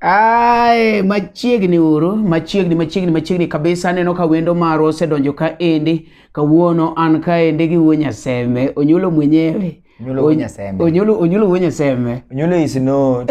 Ae, machiegni uru machiegni machiegni machiegni kabisa aneno ka wendo marwa osedonjo ka endi kawuono an ka endi gi wuo nyasembe onyulo mwenyewe Onyulo wuo nyasembe onyulo onyulo wuo nyasembe onyulo is not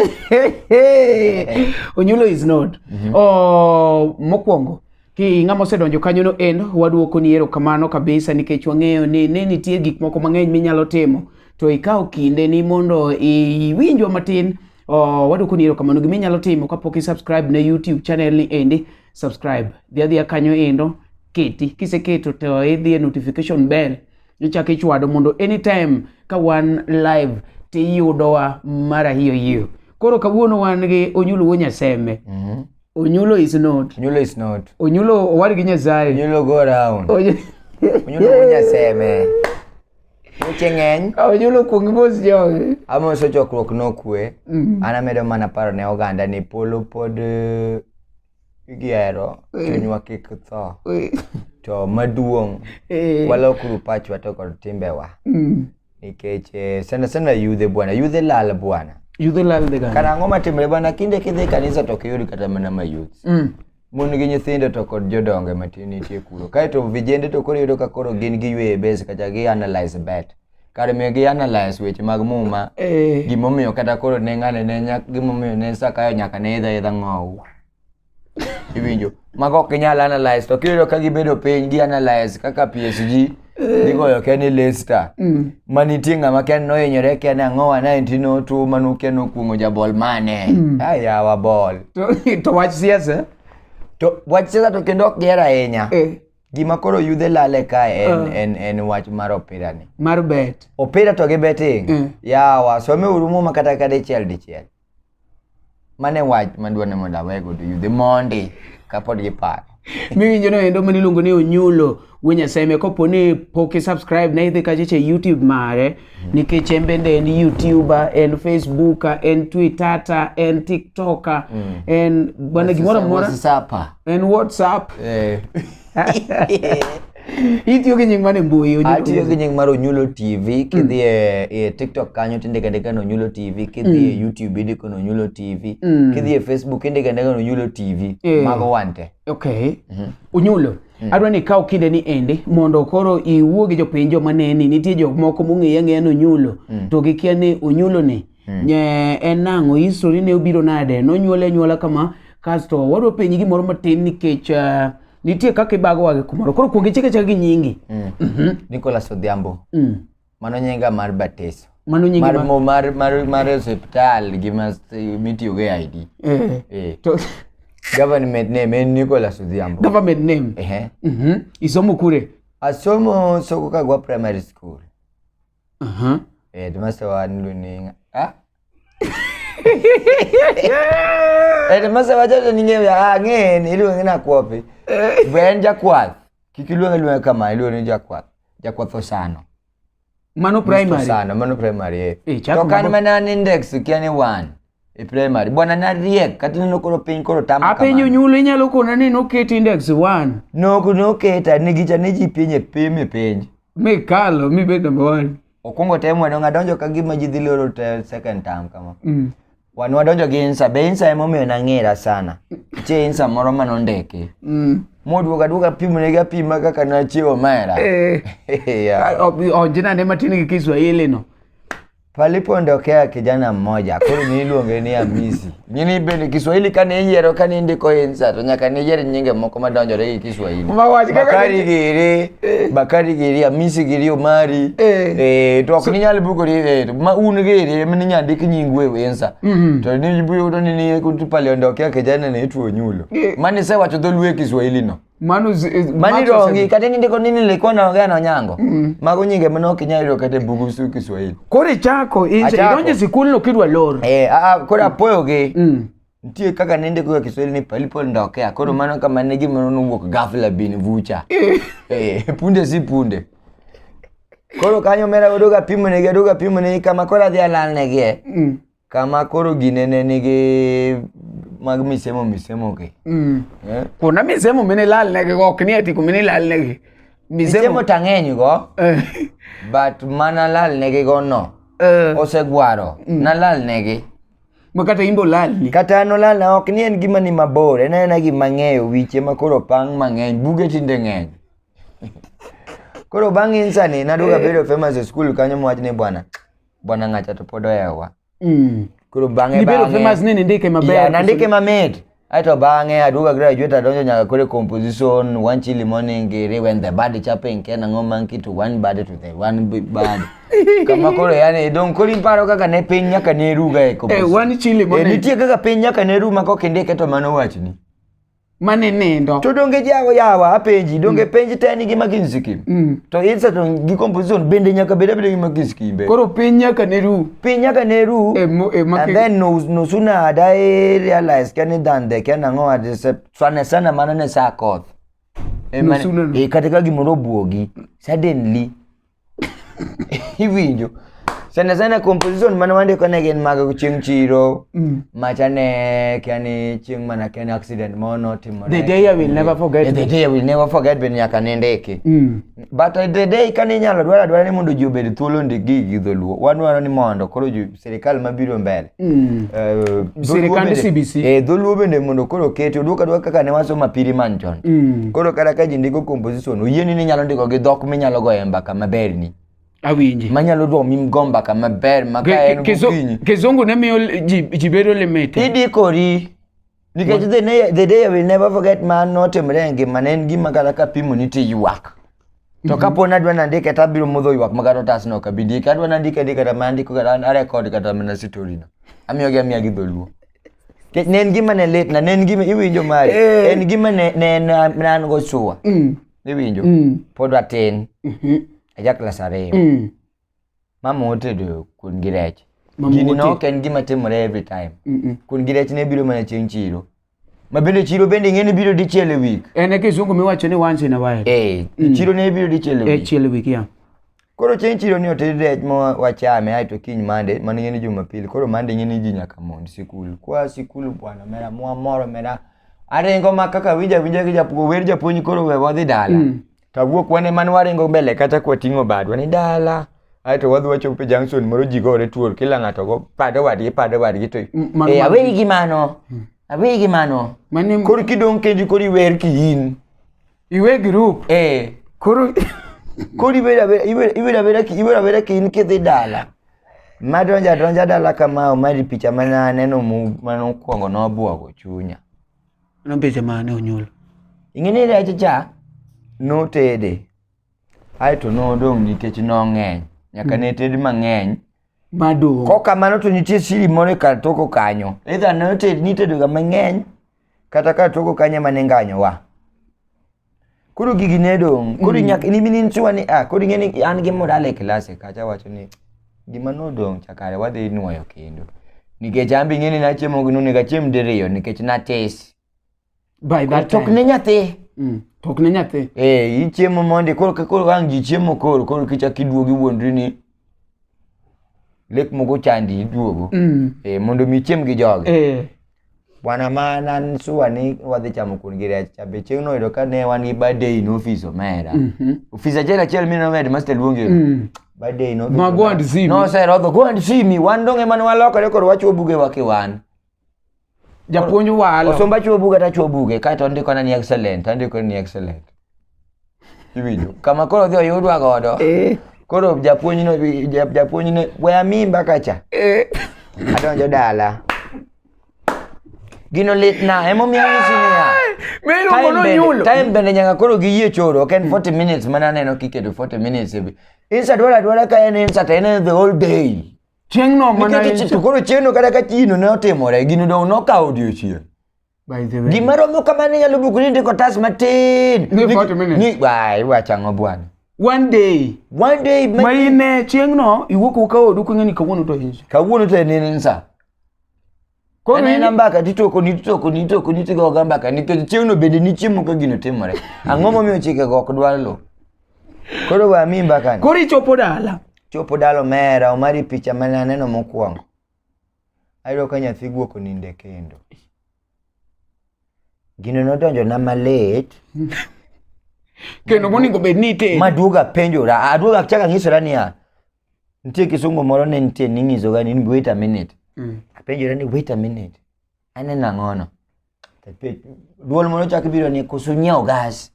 onyulo is not mm -hmm. oh, mokwongo Hi, ng'ama osedonjo kanyono en waduokoni erokamano kabisa nikech wang'eyo ni ne nitie gik moko mang'eny minyalo timo to ikawo kinde ni mondo iwinjwa matin oh, waduokoni erokamano gima inyalo timo kapok i subscribe ne youtube channel ni endi subscribe dhi adhiya kanyo endo keti kiseketo to idhi e notification bell ichako ichwado mondo anytime ka wan live tiyudowa mara hiyo hiyo koro kawuono wan gi onyuluo nyasembe mm -hmm. Onyulo is not. Onyulo is not. Onyulo owar gi Nyasaye. Onyulo go around. Onyulo go Nyasaye. Weche ng'eny. Onyulo kuong mos jogi. Amoso chokruok nokwe. Mm. An amedo mana paro ne oganda ni polo pod eh, igero eh. chunywa kik tho. Eh. To maduong' walokuru pachwa to kod timbewa. Mm. nikech eh, sana sana yudhe bwana yudhe lal bwana yudhe lal de gani kana ang'o matimre bwana kinde kidhi kanisa to kiyudi kata mana ma youth mm. mon gi nyithindo to kod jodonge matin nitie kuro kaeto vijende to koro yudo ka koro gin giyweyo e base kacha gi analyze bet kar miyo gi analyze weche mag muma eh. gimomiyo kata koro ne ng'ane ne gimomiyo ne sakayo nyaka ne idha idha ng'owu iwinjo mago ok inyal analyze to kiyudo ka gibedo piny gi analyze kaka PSG gigoyo ke ni Leicester Mm. ma nitie ng'ama kia ni nohinyore kia ni ang'o wa 1902 ma nokia nokuong'o jabol mane Mm. ah, yawa bol To, to wach siasa. to wach siasa to kendo ok giher ahinya Eh, gima koro yudhe lale kae en, Ah. en, en wach mar opira ni mar bet. opira to gi betting Mm. yawa someuru muma kata ka dichiel dichiel mane wach madwa ni mondo awego to yudhe mondi kapod giparo miwinjo no endo mane iluongo ni onyulo wuo nyasaye me kopo ni pok isubscribe na idhi kacha che youtube mare nikech en bende en youtuber en facebooka en twittata en tiktoka mm. en bwana gimoro amora en whatsapp eh. itiyo gi nying mane mbui Onyulo atiyo gi nying mar onyulo tv kidhi e, e tiktok kanyo tindika ndika ni onyulo tv kidhi e youtube indiko ni onyulo tv Mm. kidhi e facebook indika ndika ni onyulo tv Eh. mago wante okay unyulo adwa ni ikaw kinde ni endi mondo koro iwuo gi jopiny joma neni nitie jok moko mong'eya ng'eya ni unyulo to gikia ni unyulo ni Hmm. Nye en nang'o history ni ne obiro nade? Nonyuole anyuola kama kasto wadwa penyi gimoro matin nikech uh, nitie kaka ibago wage kumoro. Koro kuongi chike chake gi nyingi. Mm. Mm -hmm. Nicholas Odhiambo. Mm. Mano nyinga mar batiso. Mano nyingi mar mar mar mar, mar hospital gi mas mitiyo gi ID. Eh. Eh. To government name en Nicholas Odhiambo. Government name. Eh. Mhm. Mm Isomo kure? Asomo Soko Kagwa Primary School. Mhm. Eh, timase wani luninga. Ah? Eh, timase wachoto ninge vya ah ngeni ili wengine akuopi. Bwen jakwath. Kikiluonge luonge kama iluonge jakwath. Jakwath osano. Mano primary. Osano mano primary. eh. Eh, chako To kan mabo- mana an index ukia ni one. e primary bwana nariek kata neno koro piny koro tama apenjo nyulo inyalo kona ni noket index 1 nok noketa ni gicha ni ji piny e pim e penj mikalo mibed number 1 okwongo tem wano ngadonjo ka gima ji dhi loro te second term kama mm. wan wadonjo gi insa be insa emomiyo nang'era sana che insa moro ma nondiki mm. moduogo aduoga pimonegi apima kaka nachiewo mera eh. yeah. onjinane matin gi kiswahili no Palipoondokea kijana mmoja koro niluonge ni Amisi. Gini bende Kiswahili kane iyiero kane indiko insa to nyaka ne iyier nyinge moko madonjore gi Kiswahili. Bakari Giri, eh. Bakari Giri, Amisi Giri Omari. Eh, eh to ok ninyal bukori eh ma un Giri ema ninyal ndik nyingu e insa. Mhm. To ni buyudo ni ni paliondokea kijana ne tuo nyulo. Eh. Mani sewacho dholuo e Kiswahili no. mano eh, mani rongi kata ninde ko nini likuwa naongea na Onyango mm. mago nyinge mano kinyayudo kata bugu su Kiswahili kore chako inse idonje sikul no kidwa lor eh a a kore apoyo gi mm. nitie kaka ninde kwa Kiswahili ni palipo ndokea kore mm. mano kama ne gimano nuwuok ghafla bin vucha eh. eh punde si punde koro kanyo mera odoga pimo ne odoga pimo ne kama kora dhia lal ne gie mm. kama koro gine ne nigi mag misemo misemo gi mm. eh? kuna misemo mine lal ne gi ok ni ati kumine lal ne gi misemo tang'eny go eh. but mana lal ne gi go no eh. osegwaro mm. na lal ne gi ma kata imbo lalni kata no lal na ok ni en gima ni mabor en ena gima ng'eyo wiche ma koro pang mang'eny buge tinde ng'eny koro bang' insani naduoga eh. bedo famous e school kanyo mwach ni bwana bwana ng'acha to pod ohewa mm. koro bang'e nibedo famous ni nindike maber yeah, nandike mamit aito bang'e aduoga graduate adonjo nyaka kore composition one chili morning giri when the body chaping ken ang'o monkey to one body to the one body kama koro yani dong kori paro kaka ne piny nyaka ne ruga e composition eh, one chili eh, morning eh, nitie kaka piny nyaka ne ru ma kok indike to mano wachni mane nindo to donge jago yawa apenji donge mm. penj te nigi McKinsey kim mm. to insa to gi composition bende nyaka bed abeda gi McKinsey kim be koro piny nyaka ne ru piny nyaka ne ru e, e, and then no no sooner had I realized kani than the can ango at this sana sana mana ne sa koth e, no sooner e kata ka gimoro buogi suddenly iwinjo sana sana composition mane wandiko ne gin mag chieng' chiro mm. macha ne kia ni chieng' mana kia ni accident moro notimore the day i will never forget the day i will never forget bende nyaka nindiki mm. but the day kane inyalo dwara dwara ni mondo ji obed thuolo ndik gigi gi dholuo wadwaro ni mondo koro ji sirikal mabiro mbele mm. uh, sirikand CBC eh dholuo bende mondo koro oketi oduoka duoka kaka ne waso mapiri man chon mm. koro kata ka ji ndiko composition oyieni ni nyalo ndiko gi dhok minyalo goye mbaka maber ni awinji manyalo romi go mbaka maber ma ka en gokinyi kizungu ne miyo ji bedo limited idikori Nikech the, ne- the day I will never forget ma notimre e ngima ne en gima kata kapimo ni ti ywak. To kapo ni adwa nandike to abiro mudho ywak ma kata otas no ok abi ndike. Adwa nandike ndike kata ma andiko kata an- arekod kata mana story no. Amiyogi amiya gi dholuo. Nikech Ne en gima ne lit na ne en gima iwinjo mari. Eh. En gima ne ne en ne an go sure. Mm. Iwinjo? Mm. Pod atin. Mhm. Aja klas ariyo. Mm. mama otedo kuon gi rech Mama gini otedo. nok en gima timore every time Mm-mm. kuon gi rech ne biro mana chieng' chiro ma bende chiro bende ing'e ni biro dichiel e wik en e kisungu miwacho ni once in a while eh chiro ne biro dichiel e e wik chiel wik ya koro chieng' chiro ni oted rech ma wachame ae to kiny mande mano ing'e ni jumapili koro mande ing'e ni ji nyaka mond sikul kwa sikul bwana mera mwa moro mera aringo ma kaka winja winja gi japuo wer japuonj koro we wadhi dala to awuok wane man waringo mbele kata kwa ting'o badwa ni dala aeto wadhi wachopo e junction moro ji gore tuol kila ng'ato go pado wadgi pado wadgi to M- mano- eh, aweyi gi mano aweyi gi mano Mane koro kidong' kendi koro iwer ki in iwe group. eh Koro koro iwer abera- iwer iwer abera ki iwer abera ki in kidhi dala madonjo adonja dala kama omari picha mane aneno mu- mane okwongo nobuogo chunya Mano picha mane onyuol? Ing'e ni rech cha notede aeto nodong' nikech nong'eny nyaka ne ted mang'eny Madung'. Kok kamano to nitie siri moro e kar toko kanyo. Either noted nitedoga mang'eny kata kar toko kanyo ema ninganyowa. koro gigi ne dong koro mm. nyaka ni minin chwa ni ah koro ngeni an gi modal e klase kacha wacho ni gima nodong chakare wadhi nwoyo kendo nikech an be ing'e ni nachiemo gi nonego achiem diriyo nikech natis by that time ne nyathi mm. tok ne nyathi eh ichiemo mondi koro koro ang ji chiemo koro koro kicha kiduogi wuondri ni lek moko chandi iduogo mm. eh mondo mi chiem gi jogi eh Bwana man an sure ni wadhi chamo kuon gi rech cha be chieng' noyudo ka ne wan gi birthday in office omera. Mhm. Ofis achiel achiel mi nomed master luonge. Mm. Birthday in office. Ma go and see me. No sir, odho go and see me. Wan donge man walokore koro wachuo buge wake wan. Japuonj walo. Osomba chuo buge ta chuo buge kae to ndiko na ni excellent, andiko ni excellent. iwinjo kama koro odhi oyudwa godo eh. koro japuonjne waya mimba kacha eh. adonjo dala gino litna emomiyo anyisi niya time bende nyaka koro giyie choro ok en 40 minutes mana aneno kiketo 40 minutes insert dwara dwara ka en insert en the whole day chieng'no mana to koro chieng'no kata ka chino ne otimore gino dong nokawo odiochieng' By the way. Gima romo kamano inyalo buko ni ndiko otas matin. Ni 40 minutes. Ni wai wacha ng'o bwana. One day. One day ma ma in e chieng'no iwuok uka odu king'e ni kawuono to insa. kawuono to en en sa. Koro Anena in- mbaka titoko ni titoko ni titoko ni tigo ga mbaka nikech chieng'no bende ni chiemo ka gino timore. Ang'o momiyo chike go ok dwar lo. Koro wa mi mbaka ni. Koro ichopo dala. Chopo dalo mera omari picha mane aneno mokwongo. ayudo ka nyathi guok oninde kendo gino nodonjona malit kendo monego bed ni itero maduoga penjora aduoga chaka nyisora niya nitie kisungu moro ne nitie ninyisoga ni wait a minute mm. apenjora ni wait a minute aneno ang'ono duol moro chak biro ni koso nyiewo gas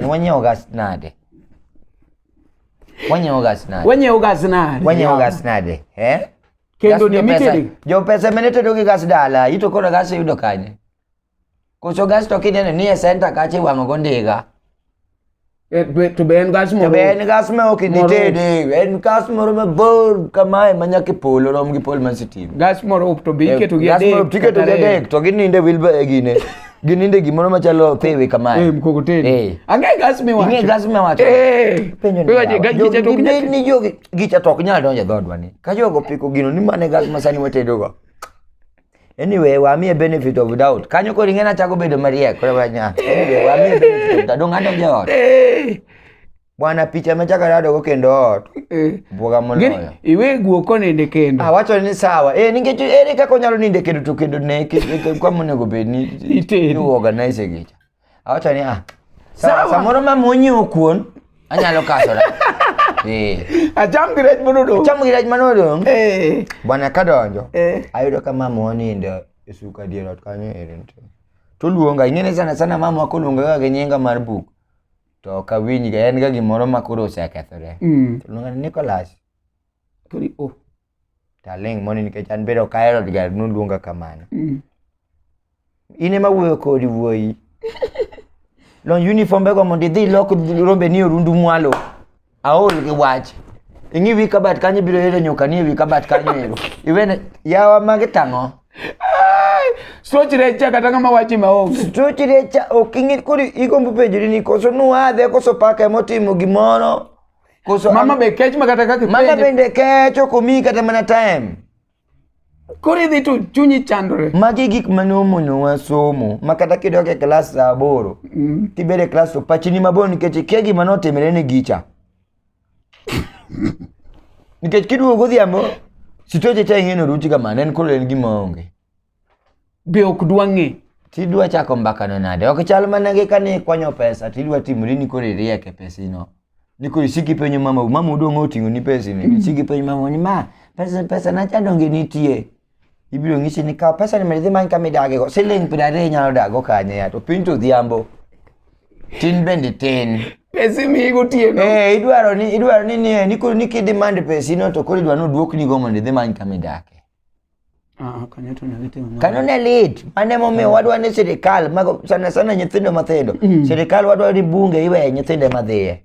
Ni wenye ogasnade. Wenye ogasnade. Wenye ogasnade. Wenye ogasnade. Eh? Kendo ni mitedi. Jo pesa menete dogi gas dala. Ito kono gas yudo kanye. Koso gas to kinene ni e center kache wango gondiga. Eh, to be en gas moro. To be en gas ma ok nitede. En gas moro mabor kamae ma nyaka polo rom gi pol man sitim. Gas moro to be eh, iketo gi adek. Gas moro tiketo gi adek to gininde wilba e gine. Gininde gimoro machalo pewe kamae. Eh mkokoteni. Eh. Ang'e gas me wacho. Ang'e gas me wacho. Eh. Penjo ni. Wewe gas gicha to kunya. Ni jogi gicha to kunya donje dhodwa ni. Ka jogo piko gino ni mane gas masani watedo go. Anyway, wa mi benefit of doubt. Kanyo ko ringena chako bedo mariek. Kore wanya. Anyway, wa mi benefit of doubt. Donga donje ot. Eh. Bwana picha machaka dado go kendo ot. Eh. Bwoga moloyo. Iwe guoko nende kendo. Ah wacho ni sawa. Eh ningecho ere kaka onyalo ninde kendo to kendo ne kwa monego bed ni itedo. You organize gicha. Awacho ni ah. Sawa. Samoro ma munyi okuon anyalo kasora. Eh. Acham gi rech manodong. Acham gi rech manodong. Eh. Bwana kadonjo. Eh. Ayudo ka mama onindo e suka dier ot kanyo ere. Toluonga ing'ene sana sana mama koluonga ga gi nyinga mar buk. to ok awinjga en ga gimoro ma koro osekethore Mm. to luonga ni Nicholas Kori o. to aling' mondo nikech an bende ok ahero ga noluonga kamano Mm. in ema wuoyo kodi wuoyi lony uniform bego mondo idhi ilok rombeni orundu mwalo aol gi wach ing'i wi kabat kanyo ibiro yudo nyuka ni e wi kabat kanyo ero iwene yawa magi tang'o Stroch recha kata ng'ama wachi maonge. Stroch recha ok ing'e koro igombo penjori ni koso nuadhe koso paka emotimo gimoro. Koso mama be kech ma kata kaka Mama bende kech ok omi kata mana time. Koro idhi to chunyi chandore. Magi gik mane omonowa somo ma kata kidok e klas sa aboro mm. tibedo e klas to pachi ni mabor nikech ikia gima notimre ni gicha. nikech kiduogo godhiambo sitoche cha ing'e noruchi kamano en koro en gima onge. be ok dwa ng'e tidwa chako mbakano nade ok chal mana gi kane ikwanyo pesa tidwa timori ni koro iriek e pesino ni koro isiki penyo mama mama odong' oting'o ni pesini mm. isiki penyo mama ni ma pesa pesa na chandonge nitie ibiro ng'isi ni kaw pesa ni mondo idhi many kama idagego siling' piero ariyo inyalo dago kanye ya to piny to odhiambo tin bende tin pesi mi gotieno eh idwaro ni idwaro ni ni ni koro ni kidemand pesino to koro idwaro ni oduoknigo mondo idhi many kama idake Ah, ah, kanyo to ne litimo mano. Kanyo ne lit. Mane momiyo wadwa ni sirikal mago sana sana nyithindo mathindo. Mm. Sirikal wadwa ni bunge iwe nyithindo ema dhiye.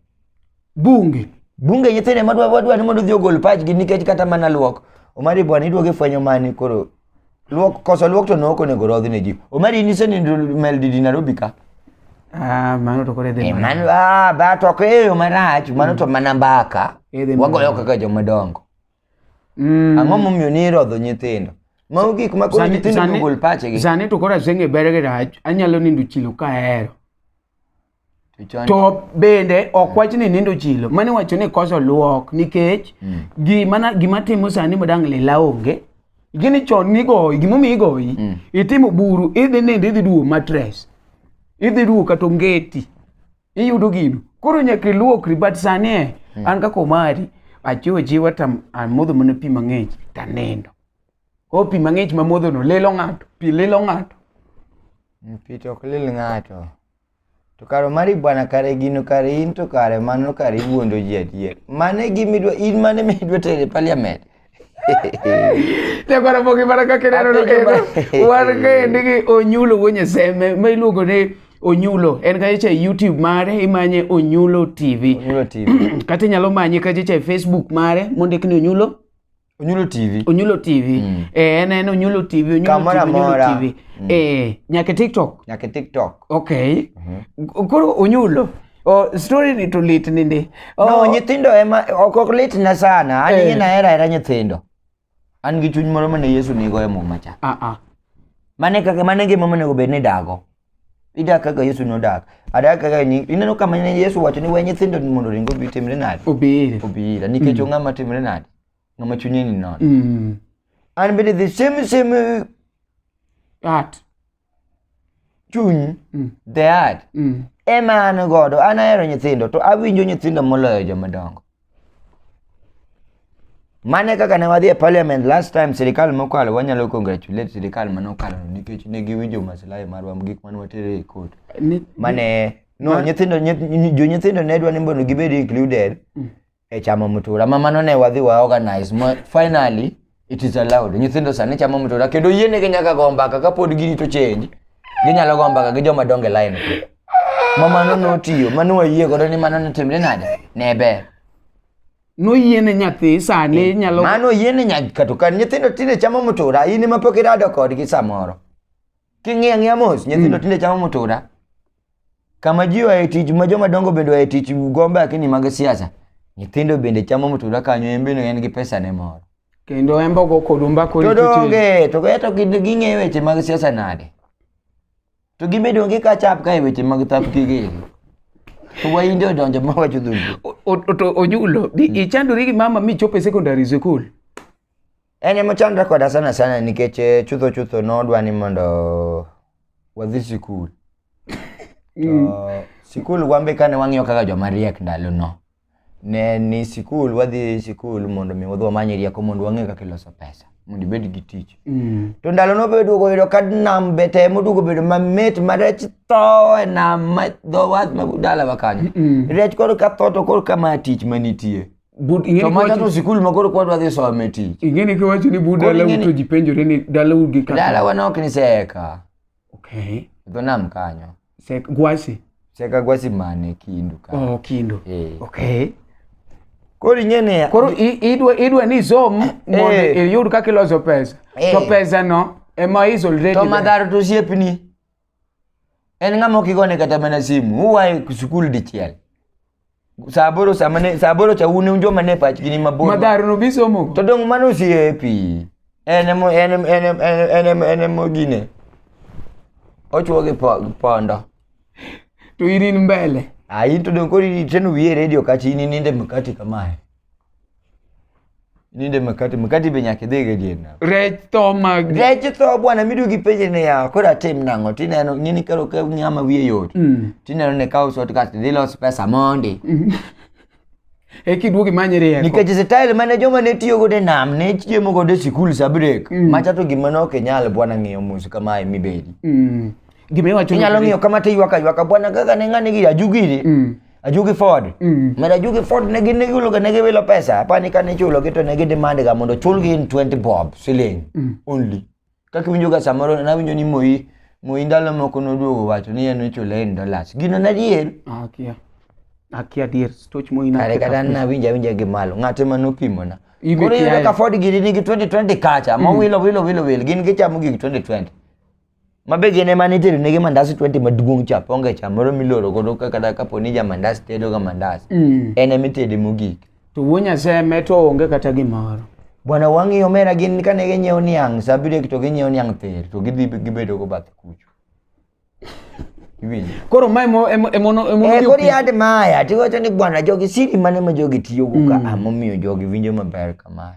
Bunge. Bunge nyithindo ema dwa- wadwa ni mondo odhi ogol pachgi nikech kata mana luok. Omari bwana iduogo ifwenyo mani koro. Luok koso luok to nok onego rodhi ne ji. Omari nise ni Meldi di Nairobi ka. Ah, mano to kore E dhi. mano ah ba to ko eyo marach mano to mana mbaka. Edhi Wagoyo mana. kaka jomadongo. Mm. Ang'o momiyo ni irodho nyithindo? Mago gik ma koro nyithindo ogol pachegi. Sani to koro asenge berege rach, anyalo nindo chilo ka ahero. To bende ok wach ni nindo chilo, mani wacho ni koso luok nikech mm. gima gima timo sani madang' lila onge. Gini chon nigoyi, gimomiyo igoyi, mm. itimo buru, idhi nindo, idhi duwo matres, idhi duwo kata ongeti. iyudo gino koro nyaka iluokri but sani e hmm. an kaka omari achiwo achiwa to amodho mana pi mang'ich to anindo o pi mang'ich mamodhono lilo ng'ato pi lilo ng'ato hmm, pi to ok lil ng'ato to kare mari bwana kare gino kare in to kare mano kare iwuondo ji adier mane gimidwa in mane midwa tere parliament Nyakwara mogi mana kaka ineno no kendo wan kaendi gi Onyulo wuo Nyaseme ma iluongo ni Onyulo en kacha e YouTube mare imanye Onyulo TV. Onyulo TV. Kata inyalo manye kacha e Facebook mare mondik ni Onyulo Onyulo TV. Onyulo TV. Mm. Eh en en Onyulo TV, Onyulo Kamara TV, Onyulo mora. TV. Mm. Eh nyaka e TikTok. Nyaka e TikTok. Okay. Mm -hmm. Koro Onyulo Oh, story ni to lit nindi. Oh, no, nyithindo ema ok ok lit na sana. An eh. na era era nyithindo. An gi chuny moro mane Yesu nigo e muma cha. Ah ah. Mane kaka mane ngima mane go bed ni dago. Ida kaka Yesu no dak. Ada kaka ni ineno kama ne Yesu wacho ni we nyithindo ni mondo ringo bi timre nade. Obire. Obire. Nikech mm. ng'ama timre nade. Ng'ama chunye ni non. Mm. An bende the same same uh, art. chuny mm. the heart mm. ema an godo an ahero nyithindo to awinjo nyithindo moloyo joma dongo mane kaka ne wadhi e parliament last time sirikal mokalo wanyalo congratulate sirikal mane okalo nikech ne giwinjo maslahi marwa gik mane watere e court mane no nyithindo jonyithindo ne dwa ni mondo gibed included mm. e chamo mtura ma mano ne wadhi wa organize ma finally it is allowed nyithindo sani chamo mtura kendo yienegi nyaka go mbaka kapod girito change ginyalo go mbaka gi joma donge line ma mano notiyo mano wayie godo ni mano notimre nade ne ber noyiene nyathi sani nyalo mano yiene nyaka to kan nyithindo tinde chamo mtura in ema pok irado kodgi samoro King'iyo ang'iya mos, nyithindo mm. tinde chamo mutura. Kama ji oaye tich ma joma dongo bende oaye tich gombe akini mag siasa. Nyithindo bende chamo mutura kanyo en bende en gi pesa ne moro. Kendo embo go kodumba ko To donge to ga to ging'e weche mag siasa nade? To gibedo gi ka chap ka e weche mag thap kigegi. To wainde odonjo ma wacho dhulu. Ojulo, mm. ichandori gi mama michopo e secondary school. En ema ochandra koda sana sana nikech eh, chutho chutho nodwa ni mondo wadhi sikul. To sikul wan be kane wang'iyo kaka joma riek ndalono. Ne ni sikul wadhi sikul mondo mi wadhi wamany rieko mondo wang'e kaka iloso pesa mondo ibed gi tich. Mm. To ndalono be duogo yudo ka nam be temo duogo bedo mamit ma rech tho e nam ma dho wath ma dalawa kanyo. Mm. Rech koro ka tho to koro kama tich manitie. to mano no sikul ma koro kwadwa dhi some tich ing'e ni kiwacho ni bu dalau to ji penjore ni dalau gi kaka dalawa ne ok ni seka okay dho nam kanyo seka gwasi seka gwasi mane kindu ka oh kindu eh okay koro ing'e ni koro idwa idwa ni som eh. mondo eh. iyud kaka iloso pesa eh. to pesa no ema is already to madhar to siepni en ng'ama okigone kata mana simu huwaye sikul dichiel saboro samane saboro cha un joma ne pachgi ni mabor madharo no bisomo to dong mano osiepi en emo en em- en em- en em- en em- en emo gine ochuo gi po- gi pondo to irin mbele ayi to dong koro iteno wiye redio kachi ini ninde mkati kamae Ninde makati makati be nyaka idhi ga dier nam. Rech tho ma Rech tho bwana midu gi penje ne yawa koro atim nang'o tineno ng'ini karo ka ng'ama wiye yot. Mm. Tineno ne kawo sot kasto idhi los pesa mondi. e kiduogi manye rieko. Nikech style mane joma ne tiyo godo e nam ne chiemo godo e sikul sa break. Mm. Macha to gima ne ok inyal bwana ng'iyo mos kamae mibedi. Mm. Gima iwacho Inyalo ng'iyo kama to iywaka ywaka bwana kaka ne ng'ane giri ajugiri. Mm. Ajugi Ford. Mm. Mera Ajugi Ford ne gin giwilo ga ne giwilo pesa. Apani ka ne chulo gi to ne gidemand ga mondo chulgi in 20 bob siling mm. only. Kaka winjo ga samoro na winjo ni moyi moyi ndalo moko noduogo wacho ni en ochule in dollars. Gino na dier. Ah, okay. Akia dier stoch moyi na. Kare kata na winja winja gi malo. Ng'ate ma nopimo na. Koro yudo ka Ford gini nigi 2020 kacha. Mm. Mowilo wilo wilo wilo gin gichamo gigi 2020. ma be gin ema nitedo negi mandas 20 maduong' cha ponge cha moro miloro godo ka- kata kapo ni ja mandas tedo ga mandas Mm. en ema itede mogik to wuo nyaseme to onge kata gimoro bwana wang'iyo omera gin kane ginyiewo niang' sa abiriyo to ginyiewo niang' ther to gidhi gibedo go bath kucho Iwinjo? koro ma emo- emo- emono- Eh, emono kori yad maya tiwacho ni bwana jogi siri mane ma jogi tiyogo ka Mm. amomiyo jogi winjo maber kamae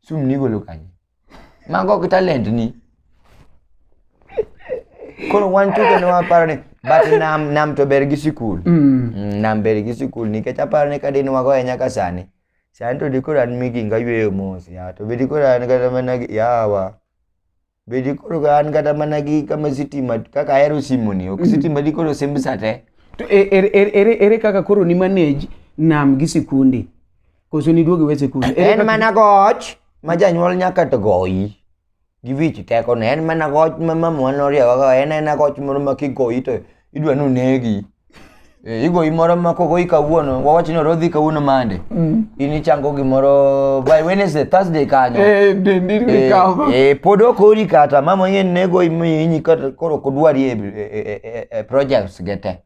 Sum nigolo kanye? Mago ok talent ni. Koro wan chuke ne waparo ni but nam nam to ber gi sikul. Mm. Mm, Nam ber gi sikul nikech aparo ni kadin wago ahinya ka sani. Sani to dikoro an miginga yweyo mos ya to be dikoro an kata mana gi- yawa. be dikoro ka an kata mana gi kama sitima kaka ahero simoni ok sitima dikoro simb sa te To e- ere- ere ere- ere kaka koro ni manage nam gi sikundi? Koso ni duogi we sikundi? Ere en kaka- mana goch ma janyuol nyaka to goyi gi wich tekone en mana goch ma mamwa noriewa en ena goch moro ma kigoyi to idwa nonegi eh, igoyi moro ma kogoyi kawuono wawach ni orodhi kawuono mande mm. in ichango gimoro by wednesday thursday kanyo eh, eh, pod okori kata mama yen nego inyi koro kodwari e projects ge te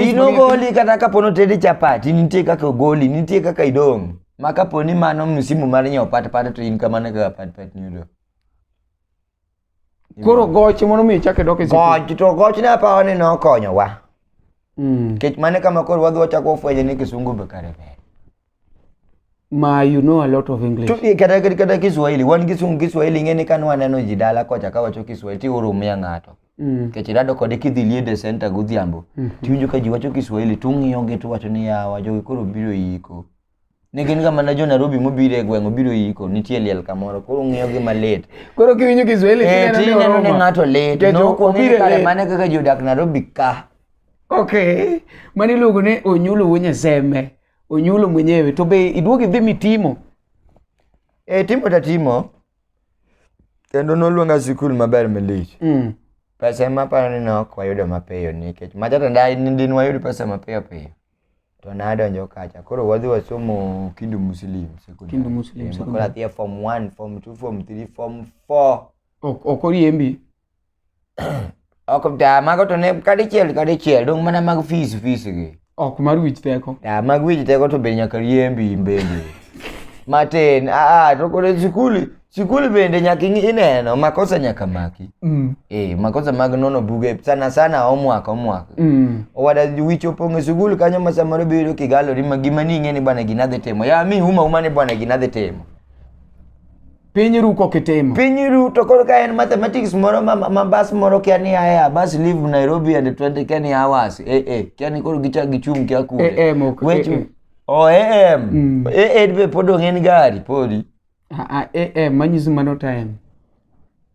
inogoli kata kapono tedi chapati nitie kaka ogoli nitie kaka idong' ma kaponi mano msimu mar nyiewo patpat to in kamano kaka patpat ni odong' Koro goch mondo mi chak e dok e sikul. Goch to goch ne apawa ni nokonyowa. Mm. Kech mane kama koro wadhi wachako wafwenyo ni kisungu be kare ber. Ma you know a lot of English. To eh, kata kata kata Kiswahili, wan kisungu Kiswahili ng'e ni kane waneno ji dala kocha ka wacho Kiswahili ti urumia ng'ato. Mm. Kech rado kode kidhi liede center godhiambo. Tiwinjo ka ji wacho Kiswahili tung'iyogi tuwacho ni yawa jogi koro biro yiko. ne gin kama ne jo Nairobi mobiro e gweng' obiro yiko nitie liel kamoro koro ng'iyo gi malit koro kiwinjo Kiswahili eh, tineno ni ng'ato lit nokwong'e kare mane kaka jodak Nairobi ka ok mano iluongo ni onyulo wuo nyaseme onyulo mwenyewe to be iduogo idhi mitimo e timo ta timo kendo noluonga sikul maber malich mm. pesa ema aparo ni ne ok wayudo mapiyo nikech majatandai nindin wayud pesa mapiyo piyo to nadonjo kacha koro wadhi wasomo kindu muslim secondary. Kindu Muslim Eh, secondary. koro athia form 1 form 2 form 3 form 4 Ok ok oriembi. ok ta mago to ne kadichiel kadichiel dong mana mag fees fees gi Ok mar wich teko. ta mag wich teko to be nyaka riembi in bende matin aa to koro e sikul Sikul bende nyaka ing'i- ineno makosa nyaka maki. Mm. Eh, makosa mag nono buge sana sana homework homework. Mm. Owada wicho pong' e sikul kanyo ma samoro biyudo kigalori ma gima ning'e ni bwana gina dhi timo. Ya mi uma uma ni bwana gina dhi timo. Piny ru kok itimo. Piny ru to koro ka en mathematics moro ma, ma bas moro kia ni aya bas leave Nairobi and 20 kia ni hours. Eh eh kia ni koro gicha gichung' kia kule. AM ok, Wechu. AM. Mm. Eh eh be pod ong'en gari podi. Ah, ah, eh, eh, manyiso mano time.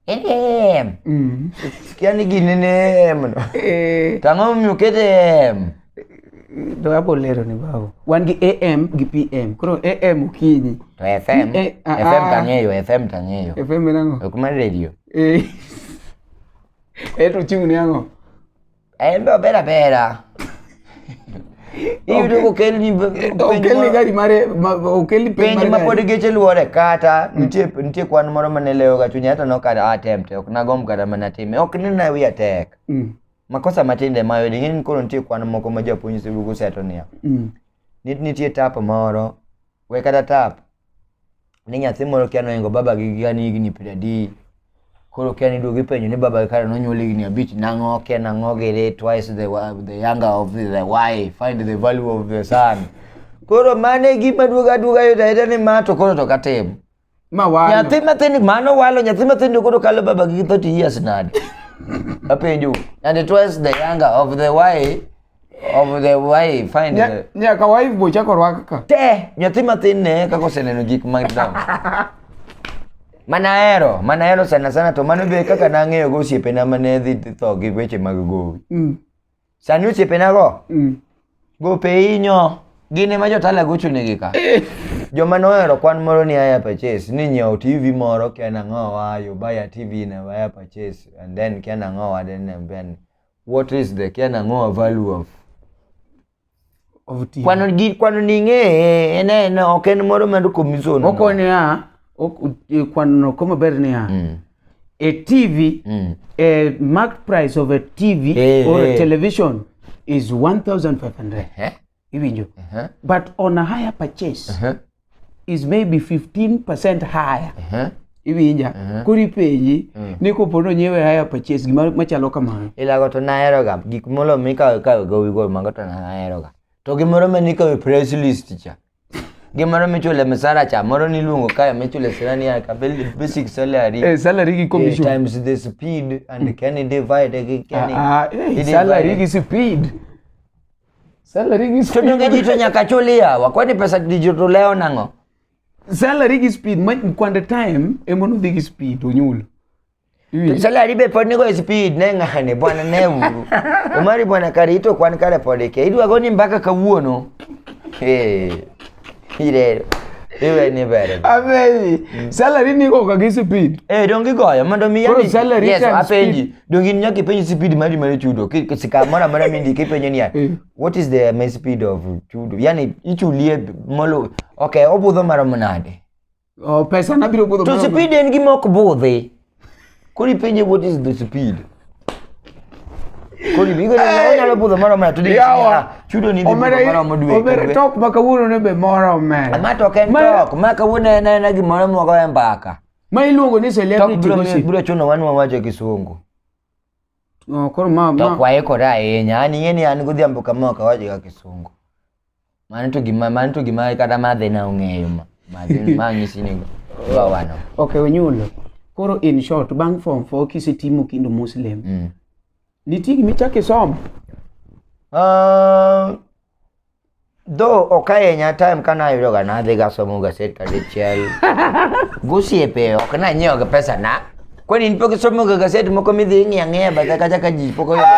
Em. Mm. Sikia ni gini ni em. no. Eh, To ang'o momiyo oket em? to abo lero ni babu. Wan gi AM gi PM. Koro AM okinyi. To FM, Eh, ah, FM ah. tang'eyo, FM tang'eyo. FM en ang'o? Ok mar radio. Eh. Eh, to ochung' ni ang'o? Eh, mbeo bera bera. Iyudo ka okel ni okel ni gari mare okel ni penj ma pod geche luore kata mm. nitie nitie kwan moro mane lewo ga chunya to nokata ah, attempt ok nagomb kata mana time ok ni na wiya tek mm. makosa matinde ma yodi ng'eni koro nitie kwan moko ma japuonj sibugu seto niya mm. nitie tap moro we kata tap ni nyathi moro kia noingo baba gi ga ni higni piero adi koro kia ni duogi penjo ni baba gi kare nonyuol higni abich nang'o kia nang'o gere twice the, wa- the younger of the, the wife find the value of the son koro mane gima duoga duoga yudo ayuda ni ma to koro to katim Ma walo. Nyathi matin mano walo nyathi matin to koro kalo baba gi 30 years nade. Apenjo. And it was the younger of the why of the why find Nya- the Nyaka wife bo chako rwaka ka. te nyathi matin ne kaka oseneno gik madongo. Mana hero, mana hero sana sana to mano be kaka nang'eyo go osiepena mane dhi tho gi weche mag gowi. Mm. Sani osiepenago mm. gopeinyo gin ema jotala gochunegi ka eh. joma nohero kwan moro ni aya purchase ni nyiewo tv moro ken ang'o wa you buy a tv in aya purchase and then ken ang'o wa then and then what is the ken ang'o value of kwano gi kwano ni ng'e en en ok en moro mar commission moko niya e, kwano ko maber niya mm. a TV mm. a market price of a TV hey, eh, or hey. a eh. television is 1500 uh -huh. iwinjo uh -huh. but on a higher purchase uh -huh. is maybe 15% higher uh -huh. iwinja uh -huh. kori penji uh mm. -huh. ni kopo no nyiewe haya purchase gima machalo kamano ilago to nahero ga gik molo mikawe kawe gowi go mago to nahero ga to gimoro ma nikawe press list cha gimoro michule msara cha moro niluongo kae michule sirani ya kabili basic salary eh salary gi commission eh, times the speed and can divide again ah, ah eh, salary gi speed Salary gi speed. Todonge jito nyaka chuli yawa. Kwani pesa digital leo nango? Salary gi speed ma kwande time emono dhi gi speed onyulo. Salary be pod nigo speed ne ng'ane bwana ne uru. Omari bwana karito kwan kare pod ke. Idwa goni mbaka kawuono. Hey. Irero. Iwe ni bere. Ameji. Mm. Salary ni ko ka speed. Eh dongi goyo mondo mi yani. Salary yes, apenji. Dongi ni nyaki penji speed mari mari chudo. Kisika mara mara mindi kipenye ni ya. Eh. What is the main speed of chudo? Yani ichulie molo. Okay, obudho mara mnade. Oh, pesa na biro budho. To speed en gima ok budhi. Kori penje what is the speed? Kori bigo ne onyalo budho moro mara to dhi. Chudo ni dhi moro mo dwe. Omere tok ma kawuono ne be moro omere. Ma tok en tok ma kawuono en en gimoro mogo e mbaka. Ma iluongo ni celebrity gossip. Biro chuno wan wawacho kisungu. Oh, koro ma ma. Tok waikore ahinya. An ing'e ni an godhiambo kama ok awacho ga kisungu. Mano to gima mano to gima kata madhe na ong'eyo ma. Madhe ma nyisi ni wa wano. ok onyulo koro in short bang' form four kisetimo kindu muslim Mm. nitie gima ichako isomo Ah, Though ok ahinya time kane ayudoga nadhi gasomo gaset kadichiel gosiepe ok nanyiewoga pesa na kwani in pok isomoga gaset moko midhi ing'iyo ang'iya bathe kacha ka ji pok oyudo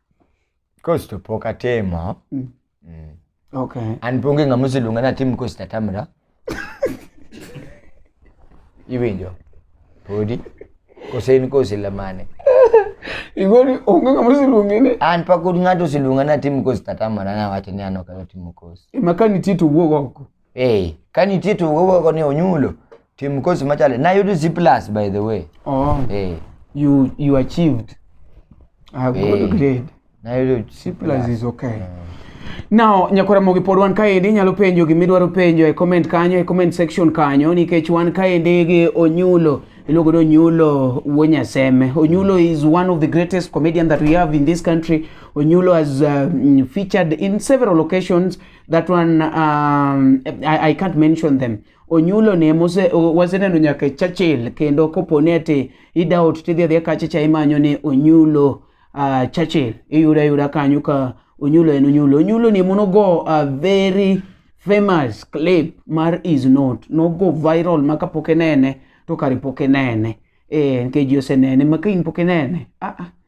Costo pok atimo. Mm. Mm. Okay. An ponge ng'ama oseluonga natim costo atamra. Iwinjo? Podi? Kose in kose lamane? Igoni onge ng'ama oseluonge ni. An pok ng'ato oseluonga natim costo atamra nawacho ni an ok atimo costo. Ema ka nitie to wuog oko. Hey, ka nitie to wugo ni onyulo tim course machalo nayudo C plus by the way. Oh, Hey, you you achieved a good Hey. grade. nayudo C Plus is okay. Now, nyakora mogi pod wan kaendi inyalo penjo gima idwaro penjo e comment kanyo e comment section kanyo nikech wan kaendi gi Onyulo iluongo ni Onyulo wuo Nyaseme. Onyulo is one of the greatest comedian that we have in this country. Onyulo has um, featured in several occasions that one um, I, I can't mention them onyulo ne mose waseneno nyaka e Churchill kendo koponi ati idaot tidhi adhiya kacha cha imanyo ni onyulo uh, Churchill iyuda yuda kanyo ka onyulo en onyulo onyulo ni mono go a very famous clip mar is not no go viral maka poke nene to kare poke nene eh nikech ji osenene maka in poke nene ah, ah.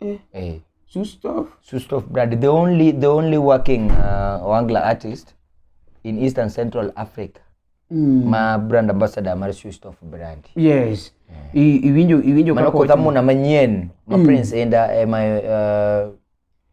eh. Eh. Sustof. Sustof brand the only the only working uh, wangla artist in East and Central Africa mm. ma brand ambassador mar Sustof brand yes yeah. iwinjo iwinjo kaka otamo na manyien ma mm. Prince enda ema eh, uh,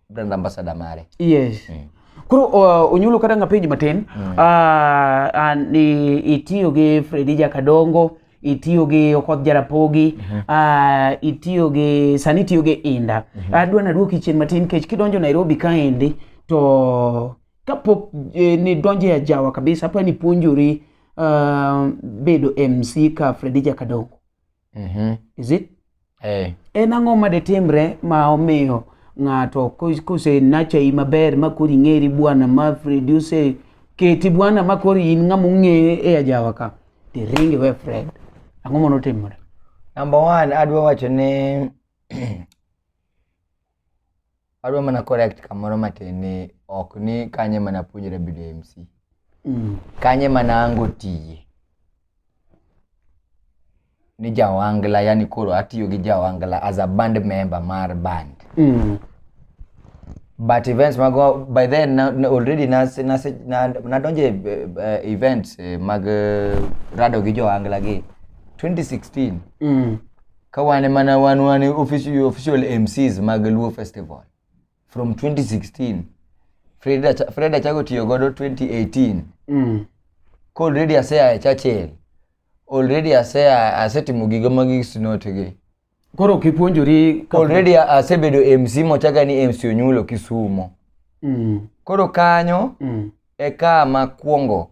brand ambassador mare yes mm. Koro uh, onyulo kata ngapenji matin mm. uh, uh, itiyo gi Fredija Kadongo itiyo gi okoth jarapogi mm -hmm. uh, itiyo gi sani itiyo gi inda mm -hmm. adwa nadwoki chien matin kech kidonjo nairobi kaendi to kapok eh, nidonjo e ajawa kabisa apa nipuonjori uh, bedo mc ka fredi jakadongo mm -hmm. is it Eh. En ang'o ma detimre ma omiyo ng'ato kose nachai maber ma kori ng'eri bwana ma produce keti bwana ma kori in ng'ama ong'e e ajawa ka to iringi we Fred. Ang'o mono timore? Number one, adwa wacho ni adwa mana correct kamoro matin ni ok ni kanye mana puonjore bedo mc Mm. kanye mana ango tiye ni jawangla yani koro atiyo gi jawangla as a band member mar band Mm. but events mago by then na, na already nas- nas- na- nadonje eh, eh, events eh, mag eh, rado gi jowangla gi 2016 Mm. ka wane mana wan wane official, official mcs mag luo festival from 2016 fred Acha- Fred achago tiyo godo 2018 Mm. ka already aseya e churchill already aseya asetimo gigo magi sinotigi Koro kipuonjori ka- already a- asebedo mc mochaga ni mc onyulo kisumo Mm. koro kanyo Mm. e ka makwongo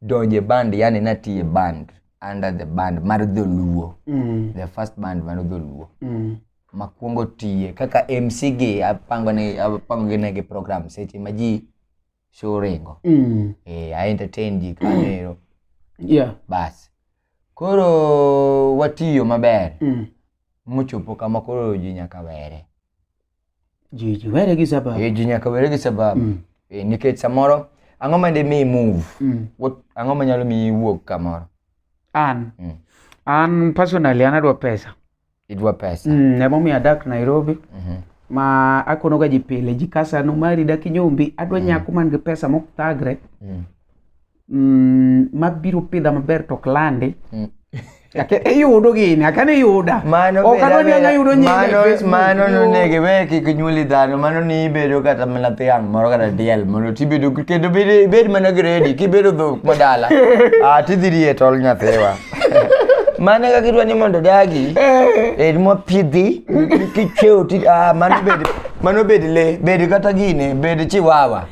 donje band yani natiye band under the band mar dholuo mm. the first band mar dholuo mm. makwongo tiye kaka mc gi apango ne apango gi negi program seche ma ji show ringo mm. eh, i entertain ji kanero yeah. bas koro watiyo maber mm. mochopo kama koro ji nyaka were Ji ji were gi sababu. Eh, ji nyaka were gi sababu. Mm. Eh, nikech samoro ang'o ma de mi move? Mm. What ang'o ma nyalo mi wuog kamoro? An. Mm. An personally an adwa pesa. Idwa pesa. Mm, ne momi adak Nairobi. Mm -hmm. Ma akono ga ji pile ji kasa no mari dak nyombi adwa mm. nyako man gi pesa mok thagre. Mm. mm, mabiro pidha maber to ok landi mm. iyudo gini akane yuda okadwaniangayudo nyingmano nonege we kik nyuoli dhano mano ni ibedo kata mana thiang' moro kata diel mondo tibedo kendo bed mana gredi kibedo dhok madala ah, tidhi rie tol nyathiwa mano kaka idwa ni mondo dagi eh. bed mopidhi kicheo ah, mano bed le bed kata gine bed chiwawa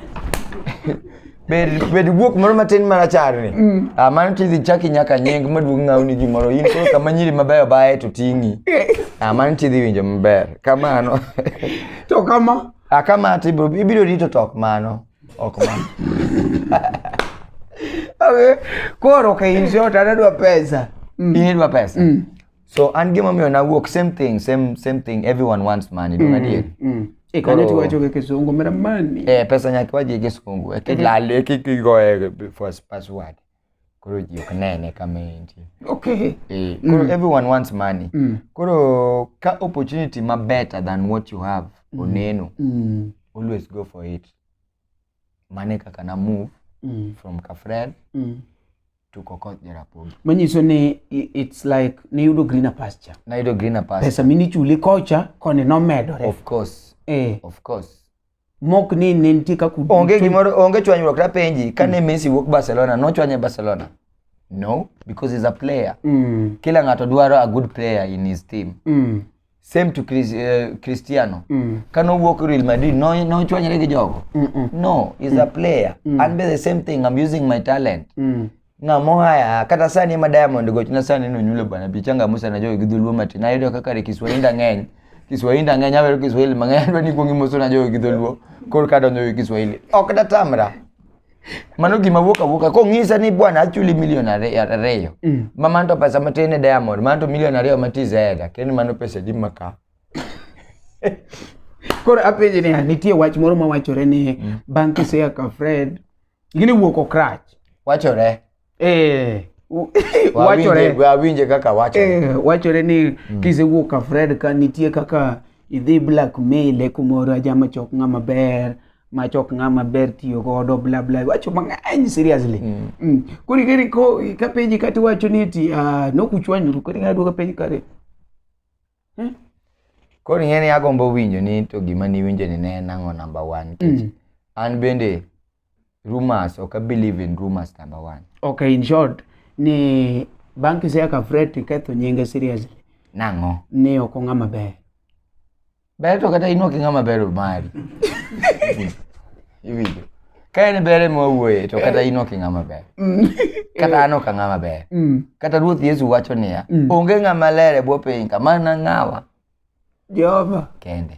Bed bed guok moro matin marachar ni. Mm. Ah, mano tidhi chaki nyaka nying maduong' ng'awni gimoro. In koro kama nyiri mabeyo baye to ting'i. Ah, mano tidhi winjo maber. Kamano. To kama. Ah, kama to ibiro ibiro rito to ok mano. Ok mano. Okay. Koro ka in short anadwa pesa. In idwa pesa. so an gima omiyo nawuok same thing same same thing everyone wants money dong adier Mm. Eh, kanyo Koro- tiwacho gi kisungu mera mani eh pesa nyaka waji gi kisungu e kilal e kigoye first password koro ji ok nene kama entie okay eh koro everyone wants money Mm. koro ka opportunity ma better than what you have oneno Mm. always go for it mane kaka na move Mm. from kafred Mm. tuko kot Jarapogi. Manyiso ni i- it's like niyudo greener pasture. Nayudo greener pasture. Pesa minichuli kocha koni nomedore. Of course, Eh, of course. mok ni ne nitie kaka ud- Onge gimoro, onge chwanyruok tapenji kane Messi wuok Barcelona, nochwanye Barcelona? No, because he's a player. Mm, Kila ng'ato dwaro a good player in his team. mm. same to Chris, uh, Cristiano mm. kane owuok Real Madrid nochwanyre no gi jogo mm -mm. no is mm. a player mm. and be the same thing I'm using my talent mm. ng'amo haya kata sani ema Diamond gochna sani nonyulo bana bi changa Musa na jogi dhuluo matin ayudo kaka re Kiswahili ng'eny Kiswahili ng'eny awero Kiswahili mang'eny adwa ni kuongi Musa na jogi dhuluo kor kadonjo gi Kiswahili ok datamra mano gima wuok awuoka kong'isa ni bwana achuli milion ariyo mm. ma mano to pesa matin e diamond mano to milion ariyo mati zeda kendo mano pesa di maka koro apenje ni nitie wach moro mawachore ni mm. bang' kisea ka fred gini wuok okrach wachore eh wachore wawinje kaka wachore eh, wachore ni mm. kisewuok ka Fred ka nitie kaka idhi blackmail e kumoro ajama chok ng'ama ber ma chok ng'ama ber tiyo godo bla bla wacho mang'eny seriously mm. mm. koro ikeri ko ka penji kati wacho ni ti uh, ah, nokuchwanyru koro ing'ado ka penji kare eh? koro ing'e ni agombo winjo ni to gima niwinjo ni ne en ang'o number one mm. an bende rumors ok believe in rumors number one okay in short ni banki se ka fret ketho nyinge seriously nang'o ni ok ong'a maber ber to kata in ok ing'a maber mari iwinjo ka en bere mwawuoye to kata in ok ing'a maber mm. kata an ok ang'a maber mm. kata ruoth yesu wacho niya mm. onge ng'a maler e bwo piny ka mana ng'awa jehova kende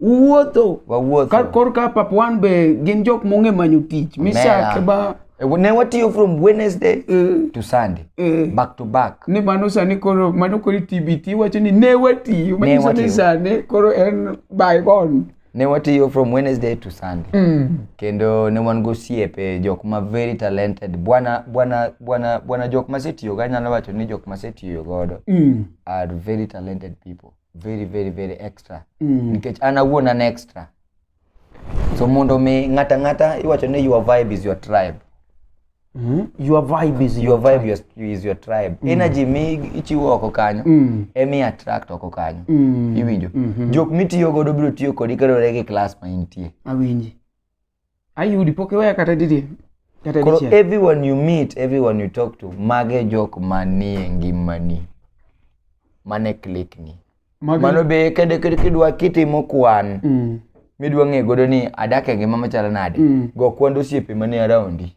uwuotho wawuotho kor ka pap wan be gin jok mong'e manyo tich misake ba eh, ne watiyo from wednesday uh, to sunday uh, back to back ni mano sani koro mano koro tbt wacho ni ne watiyo manyiso ni sani koro en by on ne watiyo from wednesday to sunday mm. kendo ne wan gosiepe jok ma very talented bwana bwana bwana bwana jok masetiyogo anyalo wacho ni jok masetiyo godo mm. are very talented people very very very extra mm. nikech an awuon an extra so mondo mi ng'ata ng'ata iwacho ni your vibe is your tribe Mm. Your vibe is your, your vibe your, is your tribe. Mm. Energy mi ichiwo oko kanyo. Mm. Emi attract oko kanyo. Mm. Iwinjo. Mm -hmm. Jok mitiyo godo biro tiyo kodi kaluwore gi class ma intie. Awinji. ayudi pok iweya kata didier kata koro dichiel everyone you meet everyone you talk to mage jok manie ngimani mane klikni Magi- mano be kede kede kidwa kitimo kwan Mm. midwa ng'e godo ni adak e ngima machalo nade Mm. go kwand osiepe manie araundi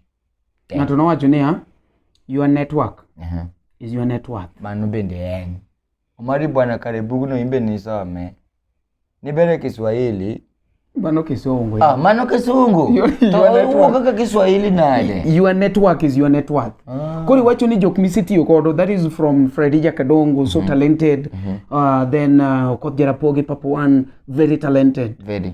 ng'ato nowacho niya your network is your net worth mano bende en Omari bwana kare bugno imbe nisome. Nibere Kiswahili. Mano kisungu. Ah, mano kisungu. Owuok kaka Kiswahili nade? Your network is your network. Ah. Koro iwacho ni jok misetiyo kodo that is from Fredija Kadongo so mm -hmm. talented. Mm -hmm. uh, then uh, Okoth Jarapogi Papuan very talented. Very.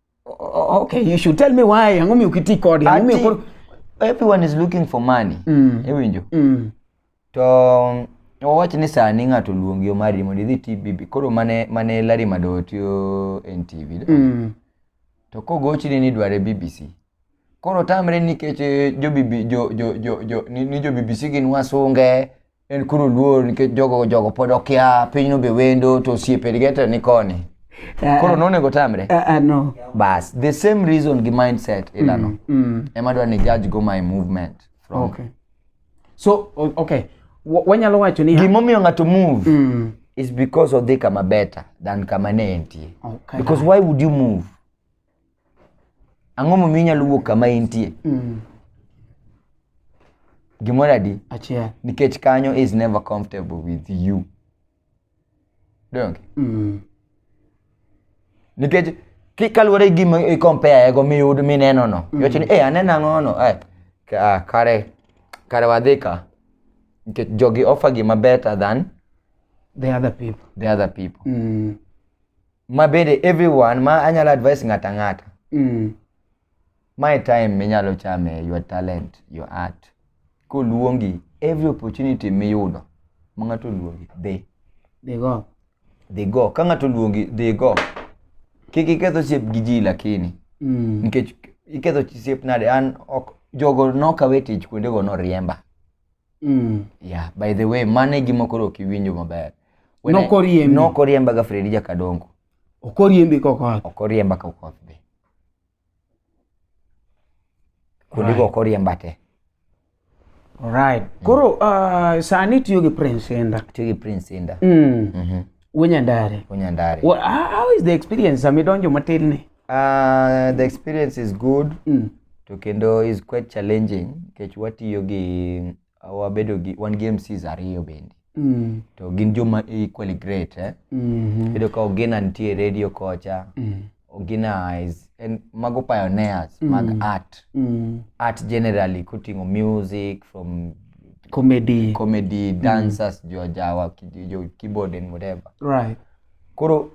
okay you should tell me why ang'o miyo kiti kode ang'o miyo koro everyone is looking for money mm. iwinjo mm. to owach ni sani ng'ato luongi omari mondo idhi tbb koro mane mane lari mado tiyo en tv mm. to kogochini ni dware bbc koro tamre nikech eh, jo, jo, jo, jo, jo, ni, ni jo bbc gin wasunge en koro luor nikech jogo jogo pod okia pinyno be wendo to osiepedge to ni koni Eh, koro nonego tamre eh, eh, no. bas the same reason gi mindset ilano mm. ema dwa ni judge go my movement from okay. so o- okay Wa- wanyalo wacho ni gimomiyo ng'ato move Mm. is because odhi kama better than kama ne entie Okay. because why would you move Ang'o momiyo inyalo wuok kama intie? Mm. Gimoro adi? Achiel. Nikech kanyo is never comfortable with you. Donge? Mm. Nikech ki- kaluwore gi gima i compare ego miyud mineno no. Iwacho ni eh aneno ang'o no. Eh ka- kare kare wadhi ka. Nikech jogi offer gima better than The other people. the other people. Mm. ma bende everyone ma anyalo advice ng'ato ang'ata Mm. my time minyalo chame your talent your art koluongi every opportunity miyudo ma ng'ato oluongi dhi They go. dhi go ka ng'ato oluongi dhi go kik iketh osiep gi ji lakini Mm. nikech iketho osiep nade an ok jogo nokawe tich kuondego noriemba mm. yeah, by the way mane gima koro ok iwinjo maber nokoriembi nokoriemba ga Fredi Jakadongo okoriembi kokoth okoriemba kokoth be kundi go okoriemba te Alright. Mm. Koro uh, sani tiyo gi Prince Inda. Tiyo gi Prince Inda. Mm. Mm -hmm. Wunyandare. Wunyandare. Well, how is the experience? Amidonjo matin ni. Uh, the experience is good Mm. to kendo is quite challenging nikech watiyo gi wabedo gi wan gi MCs ariyo bende Mm. to gin joma equally great eh? Mhm. Bedo ka Ogina nitie radio kocha Mm. Ogina is en mago pioneers mag art Mm. art generally kuting'o music from Comedy. comedy dancers jo jawa ki- jo keyboard and whatever Right. koro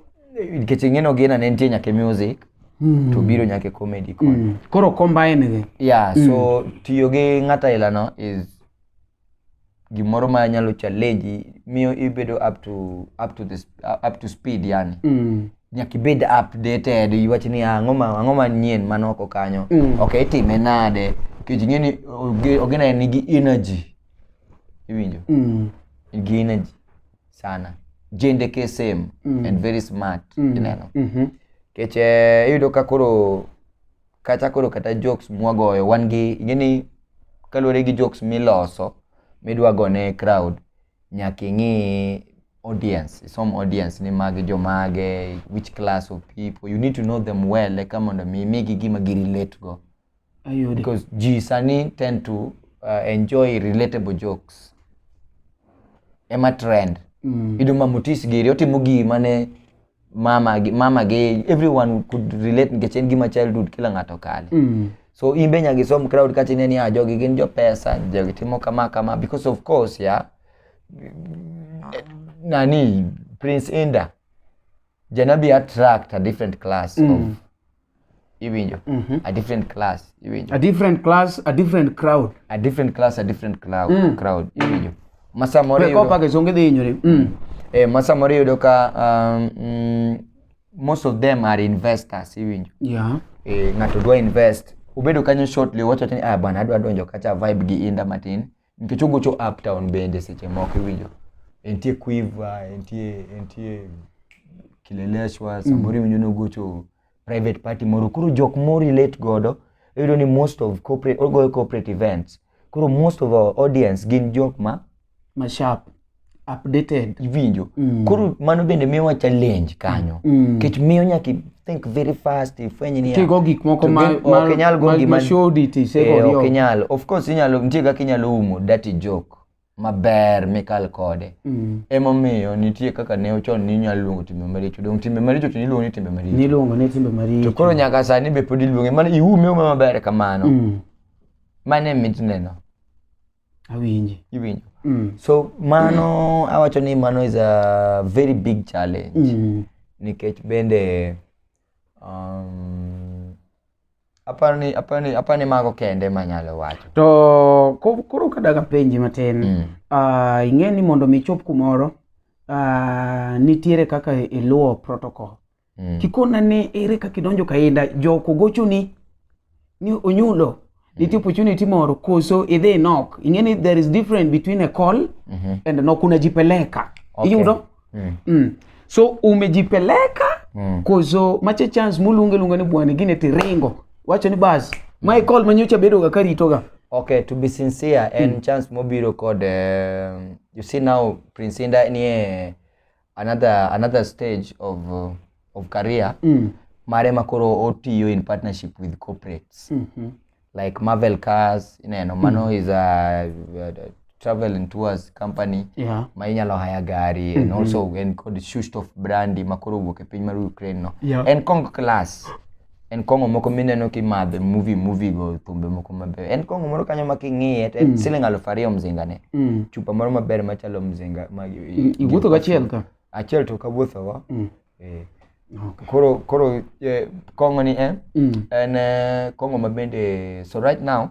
nikech ing'eno gina ne nitie nyake music Mm. to biro nyake comedy koni Mm. Koro combine gi. yeah so tiyo gi ng'ata ailano is gimoro ma nyalo challenge miyo ibedo up to up to this up to speed yani Mm. nyaka ibed updated iwach ni "Ah, ang'o ma ang'o manyien man oko kanyo Mm. ok itime nade nikech ing'e ni oge- ogena nigi energy iwinjo Mm. nigi energy sana jende ksm mm. and very smart mm. ineno mm -hmm. keche eh, iyudo ka koro kata koro kata jokes mwagoyo wan gi ing'eni kaluwore gi jokes miloso midwa gone crowd nyaka ing'i audience isom audience ni magi jomage which class of people you need to know them well eka mondo mi imigi gima girelate go Ayudo. because ji sani tend to uh, enjoy relatable jokes ema trend Mm. ido ma mutis giri otimo gi mane mama gi mama gi everyone could relate nikech en gima childhood kila ng'ato kale Mm. so in be nyaka isom crowd kata ine ni ah, jogi gin jopesa jogi timo kama kama because of course ya nani prince inda janabi attract a different class of iwinjo mhm. a different class iwinjo a different class a different crowd a different class a different crowd mm. crowd iwinjo masamoro yudo kopa ke songe dhi nyore mm. eh masamoro yudo ka um, mm, most of them are investors iwinjo yeah eh ngato dwa invest ubedo kanyo shortly wacho ni ah bwana adwa donjo kacha vibe gi inda matin Nikech ogocho uptown bende seche moko iwinjo entie Quiver, entie entie Kileleshwa, samoro iwinjo ni ogocho private party moro. Koro jok mo relate godo iyudo ni most of corporate ogoyo corporate events. Koro most of our audience gin jok ma Mashap. updated iwinjo mm. koro mano bende miyowa challenge kanyo mm. kech miyo nyaka think very fast ifwenye ni tigo gik moko ma ok nyal go gima should it is eh, ok nyal of course inyalo nitie kaka inyalo umo dirty joke maber mikal kode mm. emomiyo nitie kaka ne ochon ni inyalo luongo timbe maricho dong timbe maricho to niluongo ni timbe maricho niluongo ni timbe maricho to koro nyaka sani be pod iluonge mana iume ume maber kamano mm. mane mitneno awinji iwinjo mm. so mano awacho ni mano is a very big challenge Mm. nikech bende um, aparo ni aparo ni aparo ni mago kende manyalo wacho to ko- koro kadag apenji matin Mm. Ah, ing'e ni mondo mi ichop kumoro ah, nitiere kaka iluwo protocol mm. kikona ni ere kaka idonjo kainda joko gochoni ni onyulo mm. nitie opportunity moro koso idhi inok ing'e ni there is different between a call mm -hmm. and nok unajipeleka okay. iyudo mm. mm. so umejipeleka mm. koso mache chance muluonge luonga ni bwana gine tiringo wacho ni bas mm. my call manyocha bedoga karitoga okay to be sincere en mm. chance mobiro kod uh, you see now prince inda nie another another stage of uh, of career mm. mare makoro otiyo in partnership with corporates mm -hmm. like Marvel Cars ineno mano mm. is a, a travel and tours company yeah. ma inyalo haya gari mm -hmm. and mm-hmm. also en kod Shustov brandi makoro owuok e piny mar Ukraine no yeah. en kong class en kong'o moko mineno kimadhe movie movie go thumbe moko mabeyo en kong'o moro kanyo ma king'iye to en mm. siling aluf ariyo mzinga ne mm. chupa moro maber machalo mzinga ma iwuotho go achiel ka achiel to kawuotho go mm. eh. Okay. Koro koro eh, kong'o ni eh, mm. en eh, kong'o ma bende so right now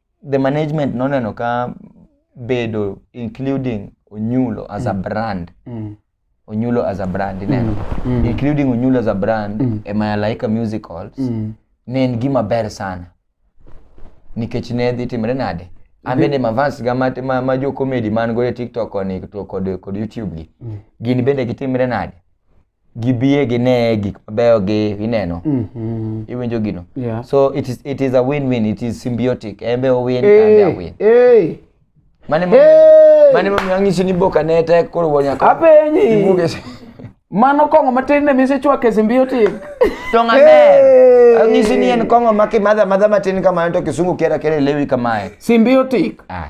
the management noneno ka bedo including onyulo as a brand Mm. onyulo as a brand ineno Mm. including onyulo as a brand Mm. e malaika musicals Mm. ne en gima ber sana nikech ne dhi timre nade an bende mavans ga ma, ma, ma jo comedy man go e tiktok koni to kod, kod youtube gi Mm. gin bende gitimre nade gibie gine gik mabeyo gi ineno mm -hmm. iwinjo gino yeah. so it is, it is a win win it is symbiotic embe owin hey, kambe awin hey. mane mo hey. mane mo angiso ni boka ne tek koro wonya ka apenyi mano kongo matin ne mise chwake symbiotic to ngane hey. angiso ni en kongo maki madha madha matin kama to kisungu kera kera lewi kamae symbiotic ah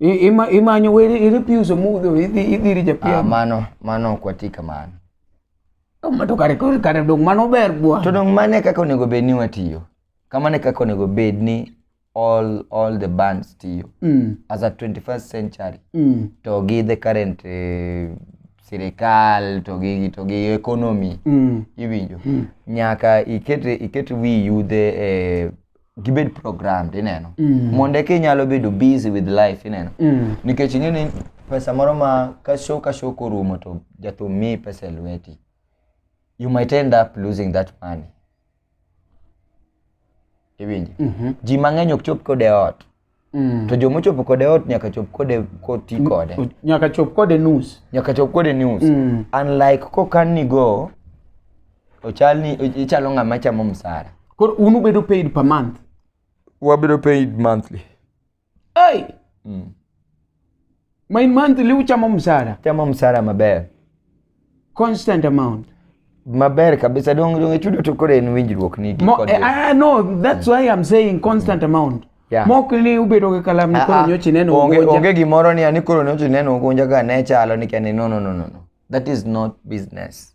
I- ima- imanyo weri irepuse mudho idhi idhiri Ah, japiem mano mano ok wati kamano Kama to kare kore kare dong mano ber bwa to dong mane kaka onego bed ni watiyo kamane kaka onego bed ni all all the bands tiyo Mm, as a 21st century mm, to gi the current eh, sirikal to gi to gi economy mm. iwinjo nyaka iket iket wi yudhe e gibed programmed ineno mm. mondo eka inyalo bedo busy with life ineno mm. nikech ing'e ni pesa moro ma ka show ka show korumo to jathum miyi pesa e lweti you might end up losing that money iwinjo mm -hmm. ji mang'eny ok chop kode ot Mm. To joma ochopo kode ot nyaka chop kode koti mm. kode. Nyaka chop kode nus. Nyaka chop kode nus. Mm. Unlike kokan ni go ochal ni ichalo ng'ama chamo msara. Koro un ubedo paid per month. Wabedo paid monthly. Hey. Mm. Main monthly uchamo msara. Chamo msara maber. Constant amount. Maber kabisa dong dong chudo to kore en winjruok ni gi kod. Eh, ah no, that's why I'm saying constant mm. amount. Yeah. Mok ni ubedo gi kalam ni ah, koro ah. nyochi neno onge onge gimoro ni ani koro nyochi neno ugonja ga ne chalo ni kani no no no no. That is not business.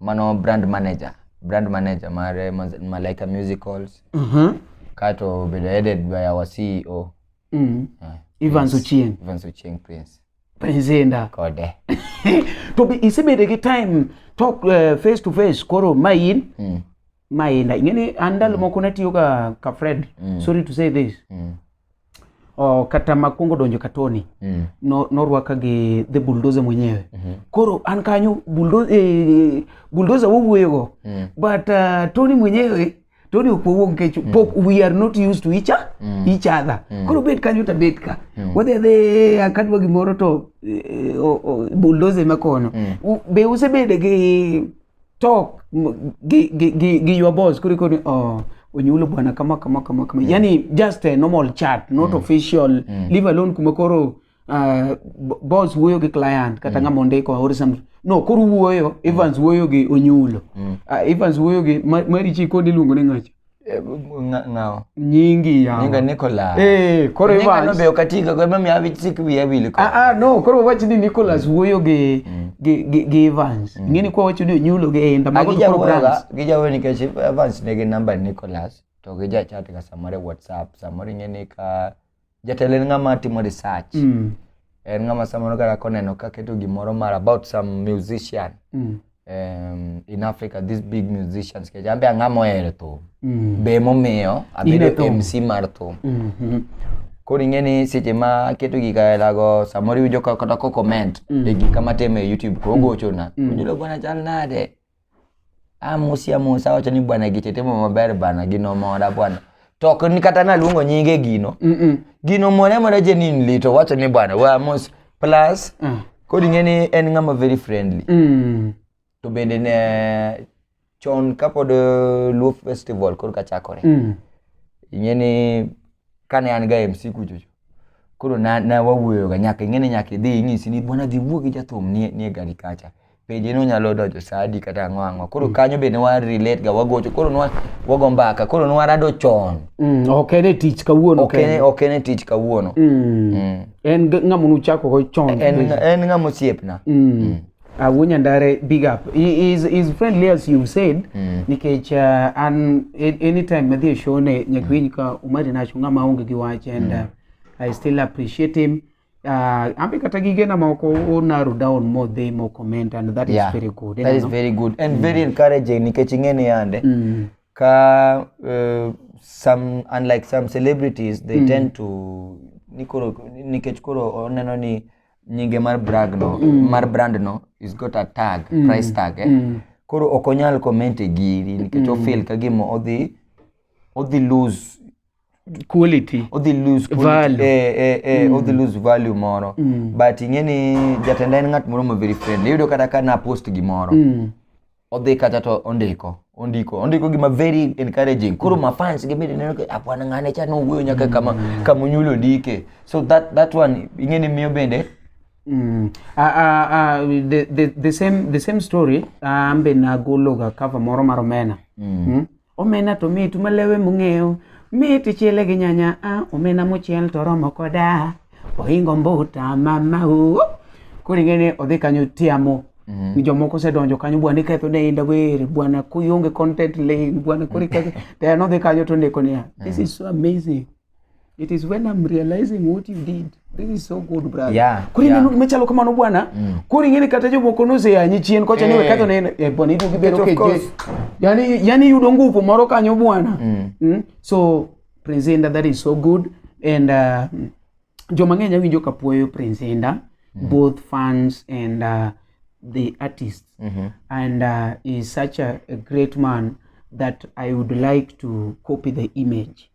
mano brand manager brand manager mar eh, Maz- malaika musicals Mhm. kato bedo headed by our ceo Mm. Yeah. Evans Ochieng. Evans Ochieng Prince Presenda. kode To be isebedo gi time talk eh, face to face koro ma in Mm, ma in ing'eni an ndalo moko natiyo ka ka Fred. Sorry to say this. mm. oh, kata makwongo donjo ka Tony mm. no, norwaka gi the bulldozer mwenyewe mm -hmm. koro an kanyo bulldozer, eh, bulldozer wowuoyogo mm. but uh, Tony mwenyewe Tony ok wawuo nikech mm. pok we are not used to each, mm. each other mm. koro bet kanyo ta bet ka mm. wadhi adhi akadwa gimoro to eh, oh, oh, bulldozer ema kono mm. be usebede gi talk gi, gi, gi, gi your boss kuliko ni oh, onyulo bwana kama kama kama kama mm. yani just a normal chat not mm. official mm. leave alone kuma koro uh, boss wuoyo gi client kata mm. ng'ama ondiko or something no koro wuoyo Evans mm. wuoyo gi onyulo mm. uh, Evans wuoyo gi Marichi kod iluongo ni ng'acha ng'awo nyingi yawa nyinga Nicholas eh koro nyinga no be okatika kwa mami abi sik bi abi liko ah ah no koro wachi ni Nicholas wuoyo gi mm. gi gi Evans mm. ngeni kwa wachi ni nyulo gi enda ah, mago koro brands gija weni ke Evans ne gi number Nicholas to gija chat ga samare WhatsApp samare ngeni ka jatelo en ng'ama timo research mm. en ng'ama samoro kata koneno kaketo gimoro mar about some musician mm. um, in africa these big musicians kecha ambe ang'a mohero thum mm. be momiyo abedo mc mar thum mm -hmm. koro ing'e ni seche ma aketo gik aelago samoro iwinjo kata ko comment mm. e gik kama timo e youtube koro mm. gochona mm. ojulogona chal nade amosi amosi awacho ni bwana giche timo maber bana gino mora bwana to ok ni kata naluongo nyinge gino Mm-mm. gino mora mora jenin lito wacho ni bwana we amos plus Ah. kod ing'e ni en ng'ama very friendly Mm. to bende ne chon kapod eh, luo festival koro ka chakore Mm. ing'e ni kane an ga mc kuchocho koro na, na wawuoyoga nyaka ing'e ni nyaka idhi inyisi ni bwana dhi wuo gi jathum nie, nie gari kacha peje no nyalo donjo saa adi kata ang'o ang'o koro mm. kanyo bende wa relate ga wagocho koro nwa wago mbaka koro nwa rado chon mm, ok en e tich kawuono ok en ok en e tich kawuono mm. mm. en ng'ama nuchako go chon en en ng'ama osiepna mm. mm. Awunya Ndare, big up. He is, is friendly as you've said. Mm. Nikech uh, an anytime madhi show ne nyakwiny mm. ka umari nacho ng'ama onge gi wach and mm. uh, I still appreciate him. uh, ambe kata gigena moko o narrow down more they more comment and that Yeah. is very good that is very good and very encouraging nikech ing'e ni yande mm. ka uh, some unlike some celebrities they tend to ni koro nikech koro oneno ni nyinge mar brag no mar brand no is got a tag price tag eh? koro ok onyal comment e giri nikech ofeel ka gima odhi odhi lose quality odhi lose quality, Value. eh, eh, eh, odhi lose value moro but ing'e ni jatenda en ng'at moro ma very friendly iyudo kata ka na post gimoro mm. odhi kata to ondiko ondiko ondiko gima very encouraging koro mm. mafans gibede neno ka apwana ng'ane cha nowuoyo nyaka kama kama onyulo ndike so that that one ing'e ni miyo bende Mm. Uh, uh, uh, the, the, the, same, the same story uh, ambe nagologa cover moro mar omena mm. Mm? Omena to mit malewe mung'eyo, mit ichiele gi nyanya, ah, omena mochiel to romo koda, ohingo mbuta mama o. Koro ing'e ni odhi kanyo tiamo. Mm. Jomoko osedonjo kanyo bwana iketho ne inda wer, bwana kuyonge content lane, bwana koro iketho. Tena odhi kanyo to ondiko niya, this is so amazing. it is when I'm realizing what you did this is so good brother yeah, kuri yeah. nanu mechalo kamano bwana mm. kuri ngene kata jomoko noseyanyi chien kocha hey. ni wekadho ne eh, bwana idu gibero keje yani yani yudo nguvu moro kanyo bwana mm. mm. so presenter that is so good and uh, joma ng'eny awinjo kapuoyo presenter mm -hmm. both fans and uh, the artist mm -hmm. and uh, is such a, a great man that I would like to copy the image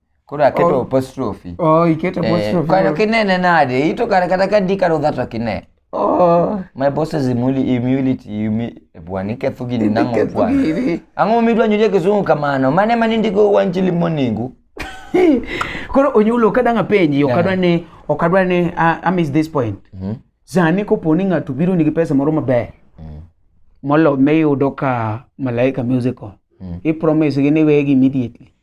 koro aketo oh. apostrophe oh iketo eh, apostrophe kano kinene nade ito kare kata ka di karo dhato kine oh my boss is imuli immunity imi bwani ketho gini nango bwani ango mi dwa nyuje kizungu kamano mane mani ndiko wanjili moningu koro onyulo kadang apenji okadwa ni okadwa ni i miss this point mm -hmm. zani koponi ng'ato biro nigi pesa moro maber mm -hmm. molo miyudo ka malaika musical mm -hmm. i promise gi ni wegi immediately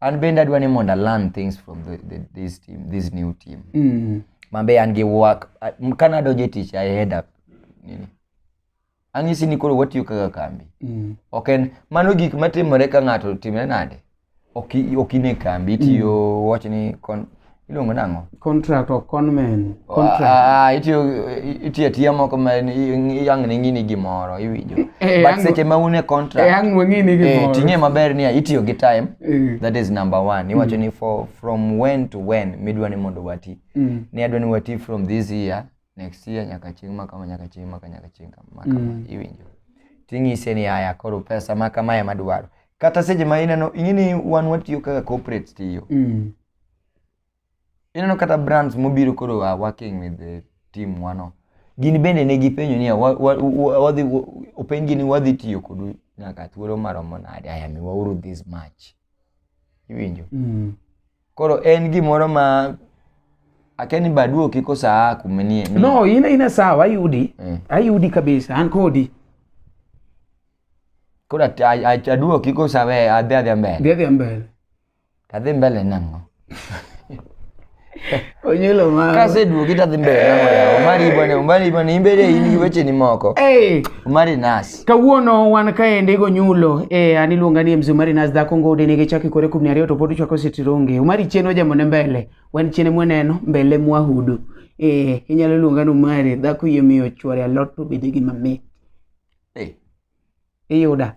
an bende adwa ni mondo learn things from the, the, this team this new team mm. mabe an gi work kane adonjo e tich i head up nini ang'isi ni koro watiyo kaka kambi mm. ok en mano gik matimore ka ng'ato timre nade ok ine kambi itiyo mm. wach ni iluongo nang'o contract of conmen ah, itiyo atiya moko ma yang ne ng'ini gimoro iwinjo eh, but seche ma un e contracting'e eh, maber niya itiyo gi time eh. that is number one mm. iwacho ni for from when to when midwa ni mondo wati mm. ni adwa ni wati from this year next year nyaka chieng' ma kama nyaka chieng' maka nyaka chieng' kama mm. iwinjo ting'ise ni aya koro pesa ma kama ema dwaro kata seche ma ineno ing'e ni wan watiyo kaka corporate tiyo Ineno kata brands mobiro koro are working with the team wano. Gin bende ne gipenjo niya wa- wa- wa- wadhi wa- openjgi ni wadhi tiyo kodu nyaka thuolo maromo nade aya miwauru this much. Iwinjo? Mm. Koro en gimoro ma akeni baduo kik osaa kuma nie. ni- No, ina ina sawa ayudi. Mm. Ayudi kabisa an kodi. Koro at- a- a- aduo kik osawe adhi adhi mbele. Ndhi adhi mbele. tadhi mbele nang'o onyulo mama kaseduogi tadhi mbele nang'o yawa omari bwana omari bwana imbele in gi wecheni moko hey. omari nas kawuono wan kaendi gonyulo e an iluonga ni mzee omari nas dhako ngode nigi chaki kore kumni ariyo to pod uchwako sitironge omari chien wajamone mbele wan chien mwaneno mbele mwahudu e inyalo luonga ni omari dhako yie miyo chwore alot to bede gi mamit hey. iyuda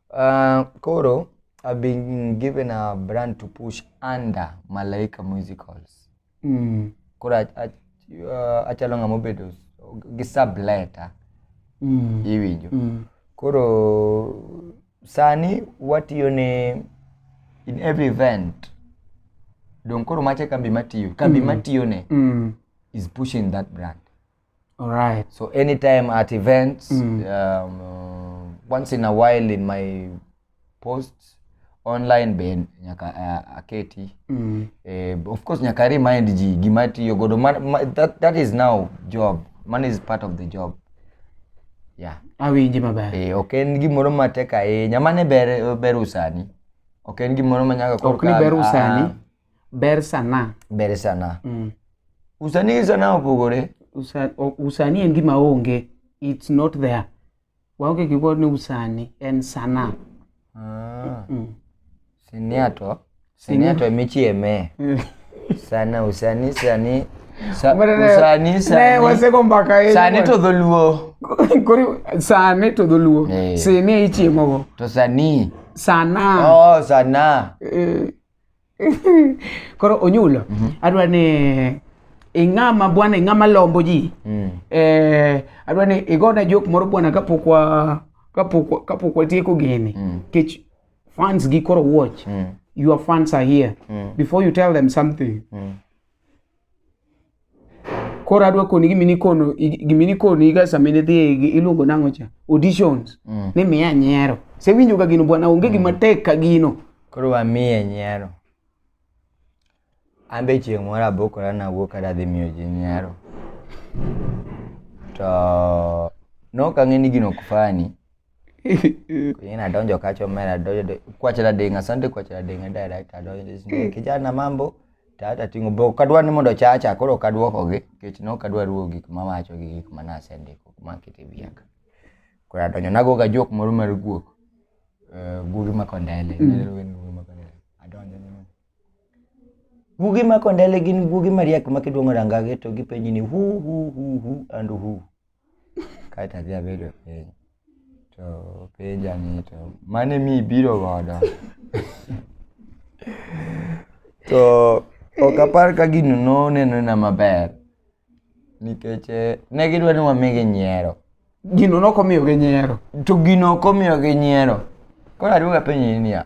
Uh, koro I've been given a brand to push under Malaika Musicals. Mm. Koro ach- ach- uh, achalo ng'ama obedo gi subleta Mm. iwinjo. Mm. Koro sani watiyo ne in every event. Dong koro mache kambi matiyo. Kambi matiyone Mm. is pushing that brand. Alright. So anytime at events, um, uh, once in a while in my posts online be nyaka uh, aketi. Mm. Eh, of course nyaka remind ji gima atiyo godo. Ma, ma, that, that is now job. Money is part of the job. Yeah. Awinji maber. Eh, ok en gimoro matek ahinya. Mane ber ber usani. Ok en gimoro ma nyaka Ok ni ber usani. Ber sana. Ber sana. Mm. Usanii gi sana opogore. Usa, o- usani en gima onge. It's not there. Waonge gi word ni usani en sana. Ah, Mm. sinia to. Sinia to emichieme. Sana usani sani. Sa, usani Ne sani. waseko mbaka yenu. Sani to dholuo. Kori sani to dholuo. Eh. Sini ichiemogo. To sani. Sana. Oh, sana. Eh, koro onyulo mm -hmm. adwa ni ing'ama bwana ing'ama lombo ji mm. eh, adwa ni igona jok moro bwana kapok wa kapok kapok watieko gini mm. kech fans gi koro watch mm. your fans are here mm. before you tell them something mm. koro adwa koni gima nikono gima nikono iga sama ne dhi iluongo nango cha auditions mm. ni miya nyiero se winjo ga gino bwana onge gima mm. tek ka gino koro wa miye nyiero ambe chieng moro abokora na wuok ada dhi miyo ji nyiero to nokang'e ni gino ok fani Kwenye nadonjo kacho mimi nadonjo kwa chela dinga asante kwa chela dinga direct adonjo mm. kijana mambo tata tingo bo kadwa ni mondo chacha koro kadwoko gi kech no kadwa ruwo gik ma wacho gi gik ma nase ndiko ma kiti biaka koro adonjo nago ga jok moro mar guok eh, gugi ma kondele mm. adonjo ni gugi ma kondele gin gugi mariek ma kidwongo rangage to gipenji ni hu hu hu hu and hu kae to adhi abedo e piny to penja ni to mane mi ibiro godo to ok apar ka gino nonenona maber nikech eh, ne gidwa ni wamigi nyiero gino nokomiyogi nyiero to gino ok omiyogi nyiero koro aduogo apenji niya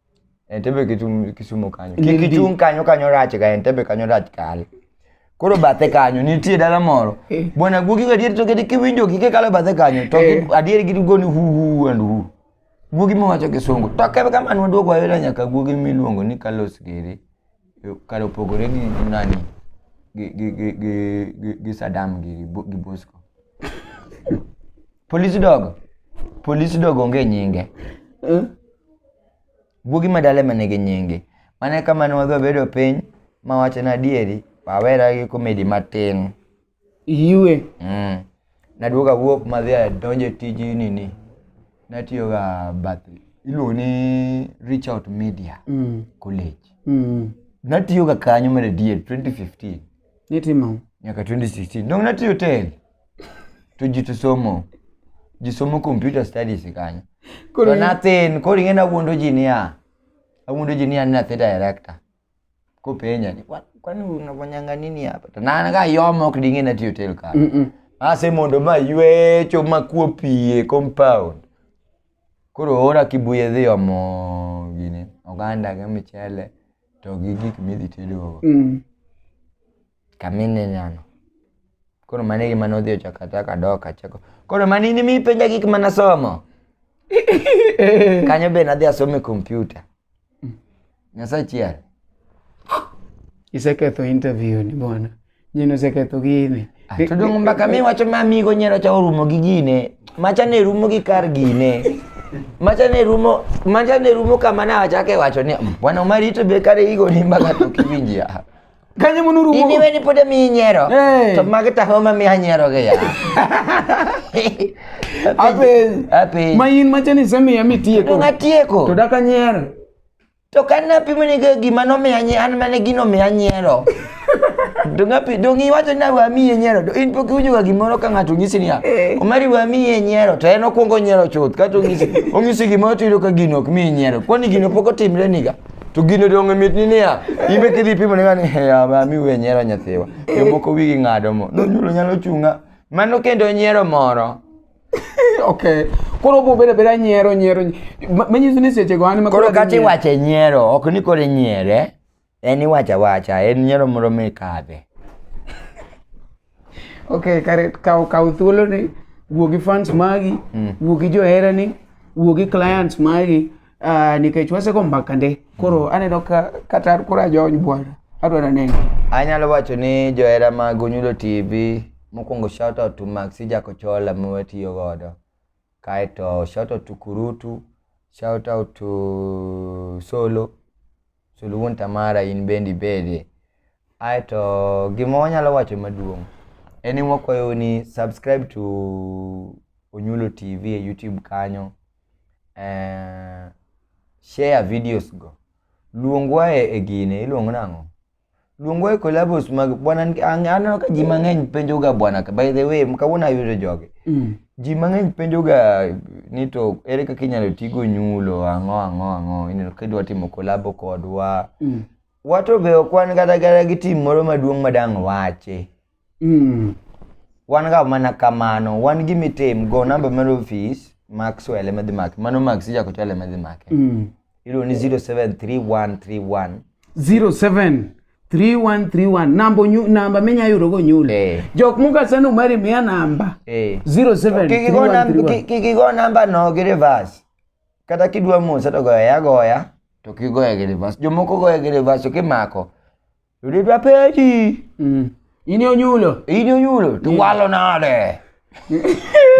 Entebbe kitum Kisumu kanyo. Kik Nindi. ichung' kanyo kanyo rach ga Entebbe kanyo rach kal. Koro bathe kanyo nitie dala moro. Eh. Bwana guogi ga adier to kedi kiwinjo kike kalo bathe kanyo to Eh. gi- adier gi goni hu hu and hu. Guogi mawacho kisungu. To kebe kama nwa duogo ayudo nyaka guogi miluongo ni Carlos Gere. Kalo pogore gi nani? Gi gi gi gi gi- gi Saddam gi gi Bosco. Police dog. Police dog onge nyinge. Eh? Guogi madale mane gi nyinge. Mane kama ne wadhi bedo piny ma wacho na dieri, awera gi komedi matin. Iwe. Mm. Naduoga wuok ma dhi donje tij nini. Natiyo ga bath iluongo ni Reach Out Media mm. College. Mm. Natiyo ga kanyo mare dier 2015. Nitimo. Nyaka 2016. Dong natiyo tel. to ji to somo ji somo computer studies kanyo Koro to in- nathin koro ing'e nawuondo ji niya awuondo ji niya ni nathi director kopenja ni "Kwa- kwani unafanyanga nini hapa to nan ka yomo ok ding'e natiyo tel kar Mm-mm. ase mondo ma ywecho makuo pie compound koro ora kibuye dhi omo gini oganda gi michele to gi gik midhi tedogo Mm. Kamine nyano. Koro mano e gima nodhi ochako achaka dok achako. Koro mano in mipenja gik mana somo. Kanyo be nadhi asome kompyuta. Nyasaye chier. Iseketho interview ni bwana. Nyino iseketho gini. Ah, to dong mbaka mi wacho ma amigo nyero cha orumo gi gine. Macha ne rumo gi kar gine. Macha ne rumo, macha ne rumo kama na achake wacho ni bwana Omari to be kare igo ni mbaka to kiwinjia. Kanya mo nuru. Ini weni pada minyero. Hey. Kema kita homa mi hanyero gaya. Ape. Ape. Main macam ni semi ya mitie ko. Ngatie ko. Toda kanyer. To kana pi mene ke gimana mi hanye an mene gino mi hanyero. Dunga pi dungi wacho na wa mi hanyero. Do in poki ujuga gimoro ka ngatu ngisi niya. Eh. Omari wa mi hanyero. To eno kuongo nyero chot. Kato ngisi. Ongisi gimoro to ido ka gino mi hanyero. Kwani gino poko timre niga. To gino donge mitni niya, in be kidhi pimo nega ni "He, ama mi we nyiero nyathiwa. Jomoko wigi ng'ado mo. Nonyulo nyalo chunga. Mano kendo nyiero moro. okay koro obo bedo abeda nyiero nyiero nyi- ma- manyiso ni sechego an ema Koro adhi kata nyiero. iwache nyiero, ok ni koro inyiere. En iwacha wacha, en nyiero moro mikadhe. Okay, kare kaw kaw thuolo ni wuo gi fans magi, mm. wuo gi johera ni, wuo gi clients magi, uh, nikech wasego mbaka nde. Koro mm. aneno ka kata koro ajony bwana. Adwaro neno. Anyalo wacho ni johera mag Onyulo TV mokwongo shout out to Maxi Jakochola ma watiyo godo. Kaeto shout out to Kurutu, shout out to Solo, Solo wuon Tamara in bende ibede. Aeto gima wanyalo wacho maduong' en ni wakwayo ni subscribe to Onyulo TV e YouTube kanyo. Eh, share videos go. Luongwa e, e gine iluongo nang'o? Luongwa e collabos mag bwana aneno ka ji mang'eny penjoga bwana by the way kawuono ayudo jogi. Mm. Ji mang'eny penjoga ni to ere kaka inyalo tigo nyulo ang'o ang'o ang'o ineno ka idwa timo collabo kodwa. Mm. Wato be ok wan kata kata gi tim moro maduong' madang' wache. Mm. Wan ga mana kamano, wan gi mitim go namba mar ofis Maxwell ema dhi make. Mano Max jako chwal ema dhi make. Mm. Iluongo ni 073131 07 3131 namba onyu- namba minya yudogo nyulo Eh. jok mugaseno mari miya namba eh. 07 Kik igo nam- 3131. kik- kik igo namba no gi reverse. Kata kidwa mose to goye agoya to kigoye gi reverse. Jomoko goye gi reverse to kimako Yule vya pedi. Mm. Ini onyulo. Ini onyulo. To walo nade.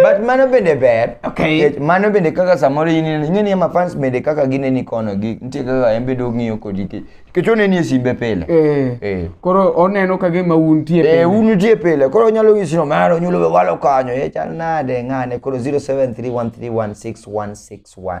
But mano bende ber. Okay. Mano bende kaka samoro in ing'e ni ma fans bende kaka gine ni kono gi nitie kaka en bende ong'iyo kodi ki. Nikech oneni e simbe pile. Eh. Eh. Koro oneno ka gima un tie pile. Eh, un tie pile. Koro onyalo nyisi no mano onyulo we walo kanyo. Eh, chal nade ng'ane koro 0731316161.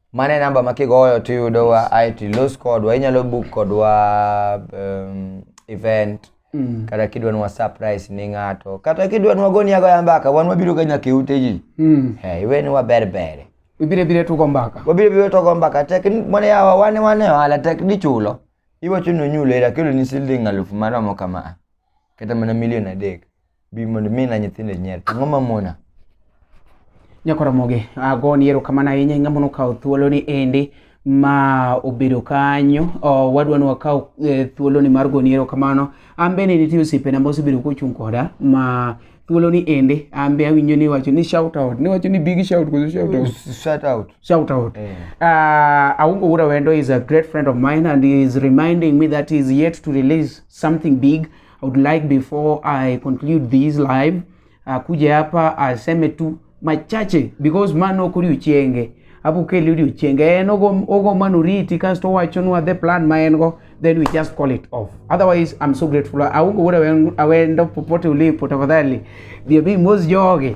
Mane namba ma kigoyo to iyudowa ae to ilos kodwa, inyalo book kodwa um, event mm. kata kidwa nwa surprise ni ng'ato kata kidwa nwa goni agoya mbaka wan wabiro ga nyaka e ute ji mm. hey, iwe ni waber bere wabire bire tugo mbaka wabire bire tugo mbaka tek mwana yawa wane wane wala tek ni chulo iwacho ni onyulo era kelo ni siling alufu maromo kama kata mana milion adek bi mondo mi na nyithindo nyier to ng'o mamona nyakoromogi agoni erokamano ahinya ing'ama nokawo thuoloni endi ma obedo kanyo oh, wadwa ni wakaw eh, thuoloni mar goni erokamano an bende nitie osiepena ma osebedo kochung' koda ma thuoloni endi an be awinjo ni iwacho ni shout out niwacho ni big shout koso shout out shout out shout out Eh. uh, aungo wura wendo is a great friend of mine and he is reminding me that he is yet to release something big I would like before I conclude this live uh, kuja hapa aseme tu machache because man ok odiochienge apo kele odiochienge en ogo ogo man oriti kasto owachonwa the plan ma en go then we just call it off otherwise I'm so grateful aonge wuod awen- awendo popote ulipo tafadhali dhiyo bi mos jogi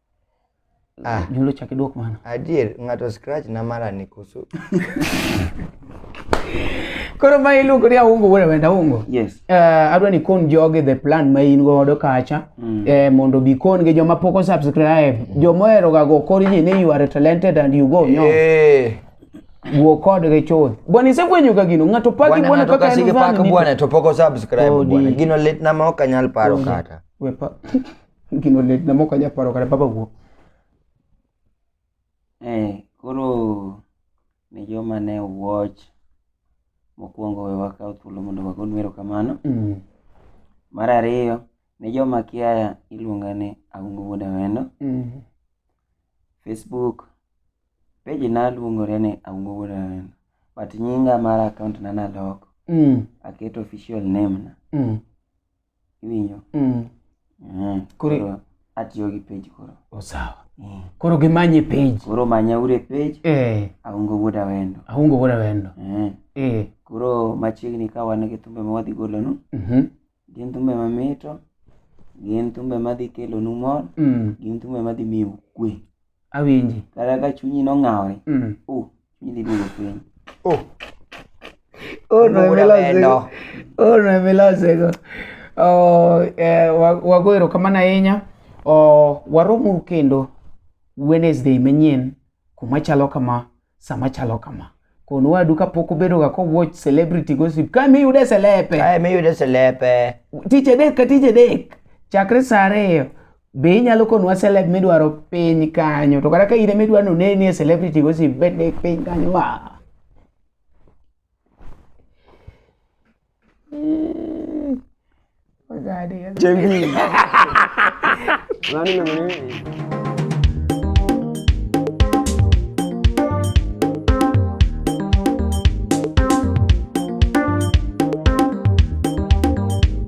Ah. Nyulo chak idwok mano. Adier, ng'ato scratch na mara ni kusu. Koro ma iluongo ni aungo wuon awenda aungo. Yes. Uh, adwa ni kon jogi the plan ma in godo kacha mm. eh, mondo bi kon gi joma pok subscribe mm. joma ohero ga go kor ji ni you are talented and you go no. Yeah. Wuo kod gi chuth. Bwana isefwenyo ka gino ng'ato paki bwana kaka en zani. Bwana to pok subscribe oh, bwana. Gino lit na ma ok anyal paro kata. Wepa. Gino lit na moko anya paro kata baba wuo. Eh, koro ne joma ne watch mokwongo we wakaw thuolo mondo wagon erokamano. Mm. Mar ariyo, ne joma kia iluonga ni Aungo Wuod Awendo. Mm. Facebook page na luongore ni Aungo Wuod Awendo. But nyinga mar account na naloko. Mm. Aketo official name na. Mm. iwinjo mm. mm. koro atiyo gi page koro oh, sawa mm. koro gimanye page koro manya ure page eh. aungo wuoda wendo aungo wuoda wendo eh. Eh. koro machiegni ka wan gi thumbe ma wadhi golonu mm -hmm. gin thumbe mamito gin thumbe madhi kelonu mor mm. gin thumbe madhi miyo kwe awinji kata ka chunyi nong'awre mm. uh, Hindi mo yun. Oh. Oh, no, me la sé. Oh, no, me la sé. Oh, eh, wagwero kama na yenya. Oh, waromo kendo Wednesday manyien kuma chalo kama sama chalo kama kono wadu kapok obedoga kowatch celebrity gossip kae miyude selepe kae miyude selepe tich adek ka tich adek chakre saa ariyo be inyalo konwa celeb midwaro piny kanyo to kata ka in midwa ni oneni e celebrity go si bende piny kanyo wa Jembi. Nani namani?